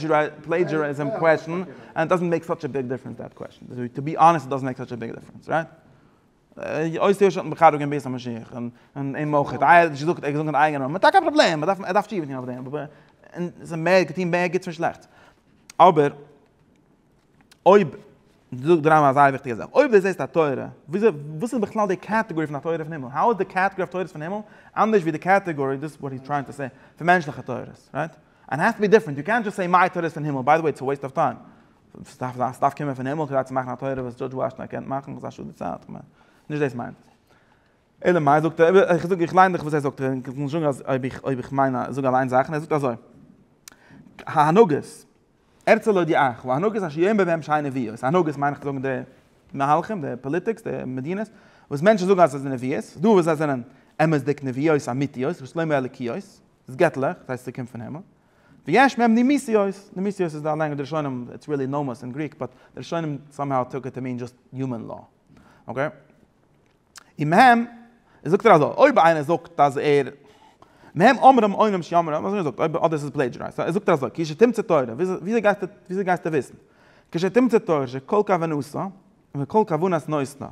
פלעידזשעריזעם קוועשן ענד דאזענט מעיק סאטש א ביג דיפרענס דעט קוועשן, טו בי אנעסט דאזענט מעיק סאטש א ביג דיפרענס רייט? אויס יוש האט מחרב געווען בית המשיח און אים אויך, ער האט געזאגט אין אייגענע נאמען, טאקע א פראבלעם, ער דארף ער דארף תשובה טון אויף דעם, אבער ער האט געטון מער גוטס ווי שלעכטס, אבער. אויב דו זאגסט דרײַ מאל א זייער וויכטיגע זאך, אויב דו זעסט א תורה, וויאזוי, וואס איז בכלל די קעטעגארי פון א תורה פון הימל? האו איז די קעטעגארי אויף תורות פון הימל אנדערש ווי די קעטעגארי, דאס וואט היז טרייענג טו סעי, פון מענטשליכע תורות, רייט? אנד העז טו בי דיפרענט, יו קענט דזשאסט סעי מיי תורה איז פון הימל, ביי די וועי איטס א וועיסט אוו טיים, ס'דארף זיין ס'דארף קומען פון הימל כדי צו מאכן א תורה וואס דזשאדזש וואשינגטאן קען מאכן, וואס איז א שאד די צייט, כ'מיין, נישט דאס מיינט ער. אלא מאי זאגט ער, איך זאג איך ליין דיך וואס ער זאגט, און כ'מוז זאגן אז אויב איך אויב איך מיין זאג אליין זאכן, ער זאגט אזוי, הנהגות. הערצל אודי אייך, וואו הנהגת השי ת אין ביהמ ש נביאות, הנהגת מיין איך צו זאגן די מהלכים, די פאליטיקס, די מדינות, וואס מענטשן זאגן אז עס איז נביאות, איז דא וואס זיי זענען אמת'דיג נביאות אמיתיות, וואס לא מאלוקיות, איז געטליך, דאס הייסט ס'קומט פון הימל, ויש מהם נמיסיות, נמיסיות איז א לענג די ראשונים, איטס ריעלי נאמאס אין גריק, באט די ראשונים סאמהאו טוק איט טו מין דזשאסט יומען לאו, אקעי. און מהם זאגט ער אזוי, אויב איינער זאגט אז ער, מהם אומרים עונים שיאמרו, אזוי זאגט, אויב אדער עס איז פלעדזשערייזד, אזוי זאגט ער אזוי, כי שתמצא תורה, וויאזוי גייסטו, וויאזוי גייסטו וויסן, כי שתמצא תורה שכל כוונתו, וכל כוונת נותנו,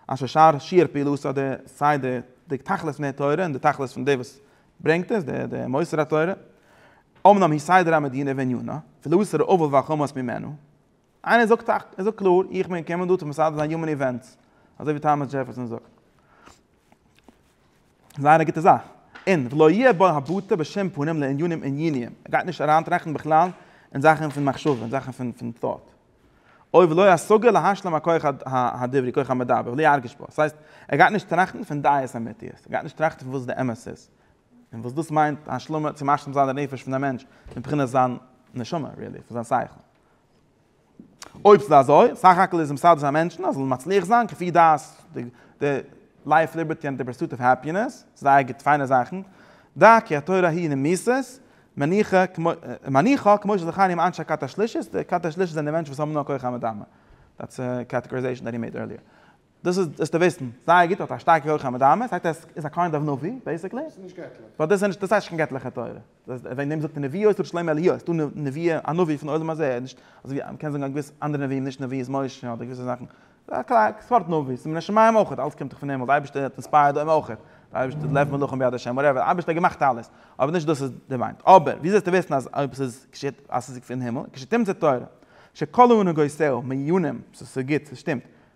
אשר שאר שיעור פעילותו, די סיי די די תכלית פון די תורה און די תכלית פון די וואס ברענגט עס, די די מוסר התורה, אמנם היא סדר המדינה ועניינה, ולא איסור עוול ואכמוס ממנו, איינער זאגט א, ער זאגט קלאר, איך בין געקומען דא צו מסדר זיין יומען איווענטס, אזוי ווי טאמעס דזשעפערסאן זאגט. זייער א גוטע זאך. און ולא יהיה בו הבטה בשום פנים לענינים ענייניים, ער גייט נישט אריינטראכטן בכלל אין זאכן פון מחשבה, אין זאכן פון פון thought. אוי ולא השגה להשלים הכח הדברי, כח המדבר, ולא ירגיש בו. ס'הייסט, ער גייט נישט טראכטן פון דעות אמיתיות, ער גייט נישט טראכטן פון וואס די אמת איז, און וואס דאס מיינט השלמה, צו משלים זיין די נפש פון א מענטש, מבחינת זיין נשמה, really, פון זיין שכל. אויב ס'איז אזוי, סך הכל איז מסדר זיין מענטשן אז זאלן מצליח זיין כפי דעת די לייף ליבערטי און די פורסוט אוו העפינעס, זייער גוט פיינע זאכן, דא כי התורה היא נמיסת מניחא כמו שזה חל עם אנשי כת השלישית, די כת השלישית זענען די מענטשן וואס האבן נאר כח המדמה, דעטס א קעטעגאריזעישאן דעט הי מעיד ערליער. דאס איז דאס טעוועסטן זייער גוט האט א שטארקע הויכע מדמה עס הייסט ער איז א קיינד אוו נביא בעסיקלי דאס איז נישט געטליך באט דאס איז נישט דאס הייסט נישט קיין געטליכע תורה וועגן דעם זאגט מען נביאו של שלמה אליהו עס איז דא נביאים א נביא פון עולם הזה נישט אזויווי מען קען זאגן א געוויסע אנדערע נביאים נישט נביאות משה אדער געוויסע זאכן א קליין סארט נביא ס'איז מן השמים אויך אלעס קומט דאך פון הימל די אייבערשטער האט אינספייערד דעם אויך די אייבערשטער לב מלאכים ביד השם וואטעווער די אייבערשטער האט געמאכט אלעס אבער נישט דאס איז די מיינט אבער ווי אזוי זאלסטו וויסן אז אויב עס איז געשעט אז עס איז פון הימל כשתמצא תורה שכלו ונגעותיה מעיונים ס'איז גוט ס'שטימט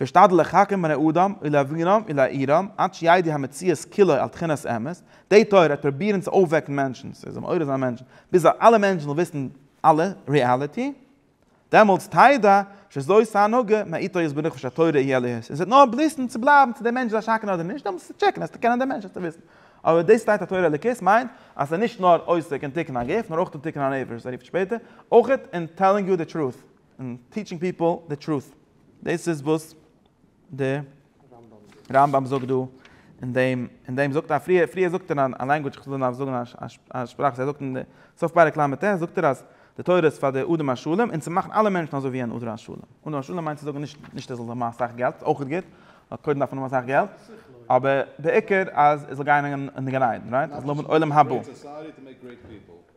ואשתדל לחקר בני אדם ולהבינם ולהאירם עד שידי המציאות כולו על תחינת אמת, די תורה וועט פרובירן צו אויפוועקן מענטשן, ס'זאל מעורר זיין מענטשן, ביז אלע מענטשן זאלן וויסן אלע ריעליטי, דעמאלטס תדע שזוהי ס'הנהגה מאיתו יזבח נפש התורה איה להיות, און ס'וועט נאר בליסן צו בלייבן צו דער מענטש איז א שקרן אדער נישט, דעמאלטס צו טשעקן עס צו קענען דער מענטש עס צו וויסן. אבער דאס שטייט התורה אלוקית מיינט אז ס'איז נישט נאר עוסק אין תיקון הגוף נאר אויך אין תיקון הנפש וואס ער רופט שפעטער אויך אין טעללינג יו די טרוט, און טיטשינג פיפל די טרוט. דאס איז וואס די רמב ם זאגט דא אין דעם, אין דעם זאגט ער פריער, פריער זאגט ער א לענגוויטש, איך זאל נאר זאגן א שפראך וואס ער זאגט אין סוף פרק ל', זאגט ער אז די תורה איז פאר די אדם השלם און צו מאכן אלע מענטשן אזוי ווי אן אדם השלם. אדם השלם מיינט צו זאגן נישט, נישט ער זאל האבן אסאך געלט, איז אויך גוט, נאר קודם דארף מען האבן אסאך געלט, אבער בעיקר אז ער זאל גיין אין גן עדן, רייט? ער זאל האבן עולם הבא.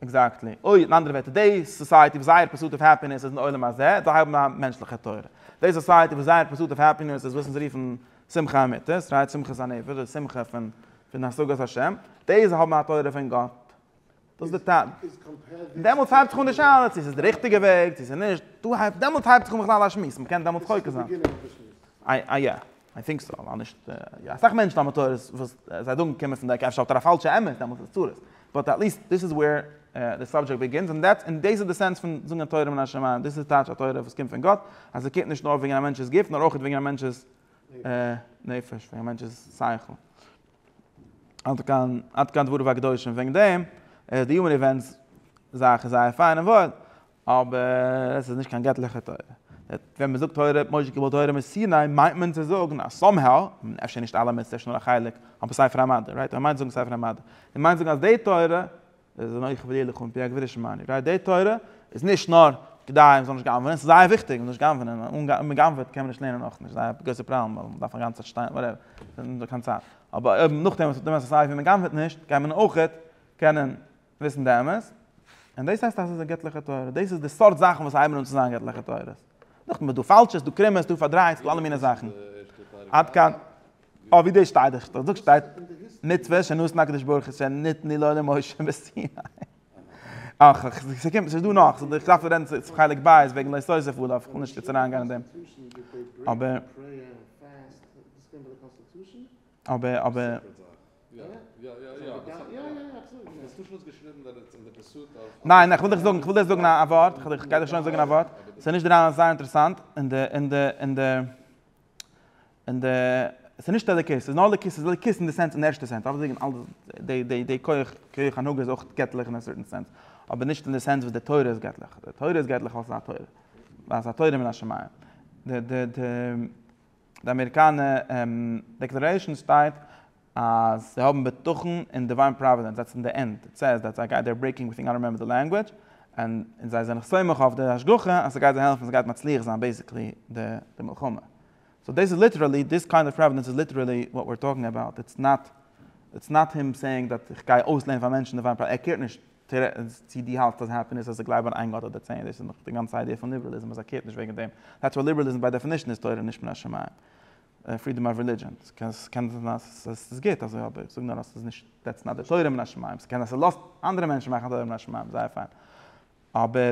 עקזעקטלי. אוי, אין אנדערע ווערטער, די סאסייעטי וואס זייער פורסוט אוו העפינעס איז אין עולם הזה, זיי האבן א מענטשליכע תורה. די סאסייעטי וואס זייער פורסוט אוו העפינעס איז וואס אונז רופן שמחה אמיתית, רייט? שמחת הנפש, די שמחה פון פון השגת השם, די זיי האבן א תורה פון גאט. דאס איז די טעם. איז קאמפערעד מיט. דעמאלטס הייבט זיך אן די שאלה צו ס'איז די ריכטיגע וועג, צו ס'איז נישט. דא הייבט, דעמאלטס הייבט זיך אן בכלל א שמועס. מ'קען דעמאלטס חוקר זיין. איי איי. איי טינק סאו, ווייל נישט אסאך מענטשן האבן תורות וואס זיי זאגן קומען פון די עק, אפשר האט ער א פאלשע אמת, דעמאלטס איז צרות, באט עטליסט דיס איז ווער די סאבדזשעקט ביגינס, און דעטס און דאס איז די סענס פון זאגן א תורה מן השמים, דאס איז טייטש א תורה וואס קומט פון גאט, אז עס קומט נישט נאר וועגן א מענטש'ס גוף נאר אויך וועגן א מענטש'ס נפש, וועגן א מענטש'ס שכל. עד כאן, עד כאן דבריו הקדושים וועגן דעם, די יומען איווענטס זאך איז זייער פיין און וואויל, אבער עס איז נישט קיין געטליכע תורה. ווען מען זאגט תורה האט משה קיבלט תורה מסיני מיינט מען צו זאגן אז סאמהאו, אפשר נישט אלע מצוות נאר א חלק, אבער ספר המדע, רייט? מען מיינט זאגן ספר המדע. מען מיינט זאגן אז די תורה, איז איז נוח ודי לכאן פי הגביר שמעני, רייט? די תורה איז נישט נאר כדי מען זאל נישט גנב'נען, עס איז זייער וויכטיג מען זאל נישט גנב'נען, און מען גנב'עט קען מען נישט לערנען אויך נישט, זייער א גרויסע פראבלעם ווייל מען דארף א גאנצע צייט שטיין וואטעווער, קיין צייט. אבער אויב נאכדעם וואס מען האט געווען אזוי סייווי מען גנב'עט נישט, גייט מען אויכעט קענען וויסן די אמת, און דאס הייסט אז עס איז א געטליכע תורה, דאס איז די סארט זאכן וואס הייבן אן צו זיין געטליכע תורות. נאכדעם איז דא פאלשע, ס'איז דא קרומע, ס'איז דא פארדרייט, ס'איז דא אלע מיני זאכן. עד כאן. אוי ווי דאס שטייט, איך זאג שטייט מצוה שנתן הקדוש ברוך הוא שנתני לו למשה בסיני. אך אך, ס'קומט, ס'איז דא נאך, איך דארף רעדן צו חלק ב' וועגן לא תוסיף עליו, איך וויל נישט יעצט אריין גיין אין דעם. אבער. אבער אבער. ניין, איך וויל דיך זאגן, איך וויל דיר זאגן א ווארט, איך גיי דיר שוין זאגן א ווארט, ס'איז נישט דערנאך זייער אינטערעסאנט, אין די, אין די, אין די, אין די, ס'איז נישט אלוקית, ס'איז נאר אלוקית, ס'איז אלוקית אין די סענס, אין די ערשטע סענס, אויף דעם אלעס, די, די, די כח, כח הנהגה איז אויך געטליך אין א סערטען סענס, אבער נישט אין די סענס וואס די תורה איז געטליך, די תורה איז געטליך ווייל ס'איז א תורה, ווייל ס'איז א תורה מן השמים, די, די, די. די אמעריקאנע דעקלערעישאן שטייט אז זיי האבן בטחון אין דיוויין פראווידענס עטס אין די ענד, איט סעיז דעט זיי גייט דער ברעיקינג עווריטינג איי דאנט רעמעמבער די לענגוויטש, און זיי זענען סומך אויף די השגחה אז ס'גייט זיי העלפן ס'גייט מצליח זיין בעיסיקלי די מלחמה, סאו דאס איז ליטערעלי דיס קיינד אוו פראווידענס איז ליטערעלי וואט ווער טאלקינג אבאוט, איטס נאט איטס נאט הים סעיאינג דאט איך גיי אויסלערנען פאר מענטשן דיוויין פראווידענס, ער קעירט נישט. טערענס, צי דו האלטסט אז העפינעס אז זיי גלייבן אין איין גאט אדער צען, דאס איז נאך די גאנצע איידיע פון ליבעראליזם אז ער קערט נישט וועגן דעם. דעטס וויי ליבעראליזם ביי דעפינישן איז תורה נישט מן השמים. פרידאם אוו רעלידזשען. ס'קען זיין אז ס'איז גוט אזוי אבער איך זאג נאר אז ס'איז נישט, דעטס נאט די תורה מן השמים. ס'קען זיין ס'לאזט אנדערע מענטשן מאכן א תורה מן השמים, זייער פיין. אבער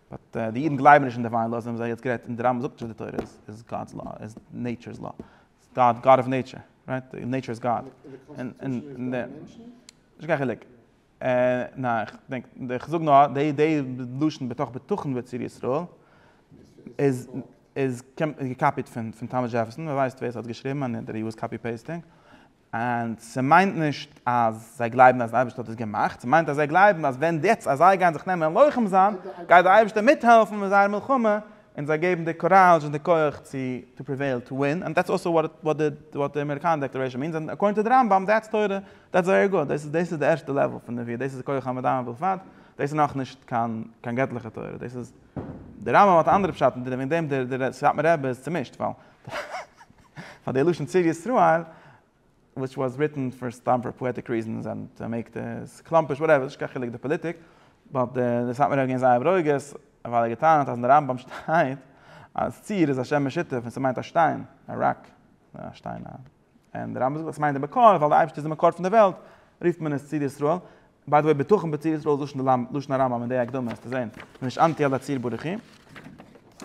באט די אידן גלייבן נישט אין דיוויין לאו, זיי האבן זיי יעצט גערעדט, און די רמב ם זאגט נישט אז די תורה איז גאד'ס לאו, איז נעיטשור'ס לאו, גאד, גאד אוו נעיטשור, רייט? נעיטשור איז גאד. נישט קיין חילוק. ניין, כ'דענק, כ'זאג נאר, די די לשון בתוך בטחון בצור ישראל, איז איז געקאפיט פון פון טאמעס דזשעפערסאן, ווער ווייסט ווער ס'האט געשריבן, און אינטערוויו איז קאפי פעיסטינג. און ס'מיינט נישט אז זיי גלייבן אז דער אייבערשטער האט עס געמאכט, ס'מיינט אז זיי גלייבן אז ווען יעצט אז זיי גייען זיך נעמען לוחם זיין, גייט דער אייבערשטער מיטהעלפן מיט זייער מלחמה, און זיי געבן די קוראזש און די כח צו טו פריוועיל, טו ווין, און דעטס אלסא וואט די אמעריקאנער דעקלערעישאן מיענס, און אקארדינג טו די רמב ם דעטס תורה, דעטס ווערי גוד, דאס איז דאס איז די ערשטע לעוועל פון נביאה, דאס איז כח המדמה בלבד, דאס איז נאכנישט קיין קיין געטליכע תורה, דאס איז, דער רמב ם האט א אנדערע פשט און וועגן דעם דער סאטמאר רבי איז צומישט, ווייל. פאר די לשון צור ישראל וויטש וואס ריטען פאר סתם פאר פאעטיק ריזענס ענד טו מעיק די סקלאמפיש וואטעווער ס'נישט קיין חילוק די פאליטיק באט די סאטמארע האבן געווען זייער ברוגז ווייל ער האט געטענה'ט אז אין די רמב ם שטייט אז צור איז א שם משותף און ס'מיינט א שטיין א ראק א שטיין א און די רמב ם זאגט אז ס'מיינט די מקור ווייל די אייבערשטער איז די מקור פון די וועלט רופט מען עס צור ישראל ביי די וועי בטחון בציר ישראל איז לשון הרמב ם לשון הרמב ם אין די הקדמה וועסטו זעהן מען איז נישט אנטי אלע ציר ברכי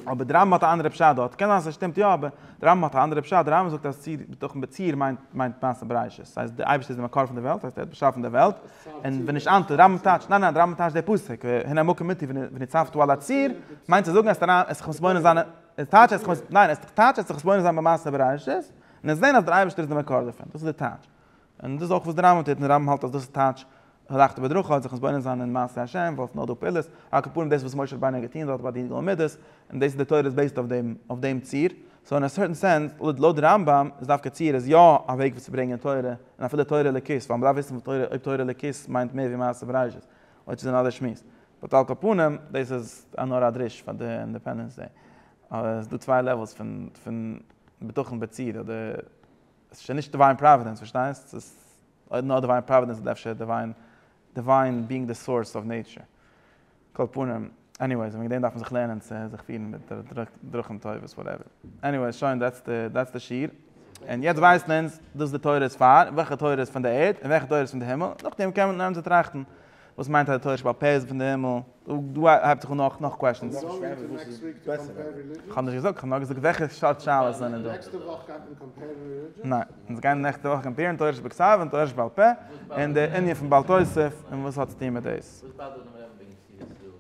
אבער די רמב ם האט א אנדערע פשט דארט קען זיין ס'שטימט יא אבער די רמב ם האט א אנדערע פשט די רמב ם זאגט אז ציר בטחון בציר מיינט מיינט מעשה בראשית ס'הייסט די אייבערשטער איז די מקור פון די וועלט ס'הייסט ער האט באשאפן די וועלט און ווען נישט אנטי די רמב ם טייטשט ניין ניין די רמב ם טייטשט די פסוק הנה מקום מיתי ונצבתו על הציר מיינט צו זאגן אז די עס זיך מתבונן זיין עס טייטשט עס זיך ניין עס טייטשט עס זיך מתבונן זיין במעשה בראשית און עס זעהן אז דער אייבערשטער איז די מקור דערפון דאס איז די טייטש און דאס איז אויך וואס די רמב ם טוט, און די רמב ם האלט אז דאס איז טייטש הלכתא בדרכא, האט זיך מתבונן זיין אין מעשי השם, וואס נאר דא פעלערס, על כפרים דאס וואס משה רבינו האט געטון דארט ביי די גלו מידות, און דאס איז די תורה איז בעיסד אויף דעם ציר, סאו אין א סערטען סענס, לויט די רמב ם, איז דווקא ציר איז יא א וועג וואס צו ברענגען תורה, און אפילו תורה אלוקית, ווייל מ'דארף וויסן אויב תורה אלוקית מיינט מער ווי מעשה בראשית, אויב ס'איז אן אנדער שמועס. באט על כל פנים, דאס איז נאר א דרוש פאר די אינדעפענדענס דעי, אז ס'איז דא צוויי לעוועלס פון בטחון בציר, אדער. עס איז שוין נישט דיוויין פראווידענס, פארשטייסט? עס איז אויב נאר דיוויין פראווידענס איז אפשר דיוויין, דיוויין בינג די סאורס אוו נעיטשער. כל פנים, עניוועיס, וועגן דעם דארף מען זיך לערנען צו זיך פירן מיט די דרכים טובות, וואטעווער. עניוועיס, שוין, דעטס די, דעטס די שיעור. און יעצט ווייסן אונז דאס די תורה איז פאר, וועלכע תורה איז פון די ערד, און וועלכע תורה איז פון די הימל, נאכדעם קען מען אנהייבן צו טראכטן וואס מיינט אז די תורה שבעל פה איז פון די הימל? דא הייבט זיך אן נאך נאך קוועשענס. כ'האב נישט געזאגט, כ'האב נאר געזאגט וועלכע סארט שאלות זענען דא. ניין, אונז גייען נעקסטע וואך קאמפעירן תורה שבכתב און תורה שבעל פה, און די ענין פון בעל תוס' און וואס האט צוטון מיט דאס.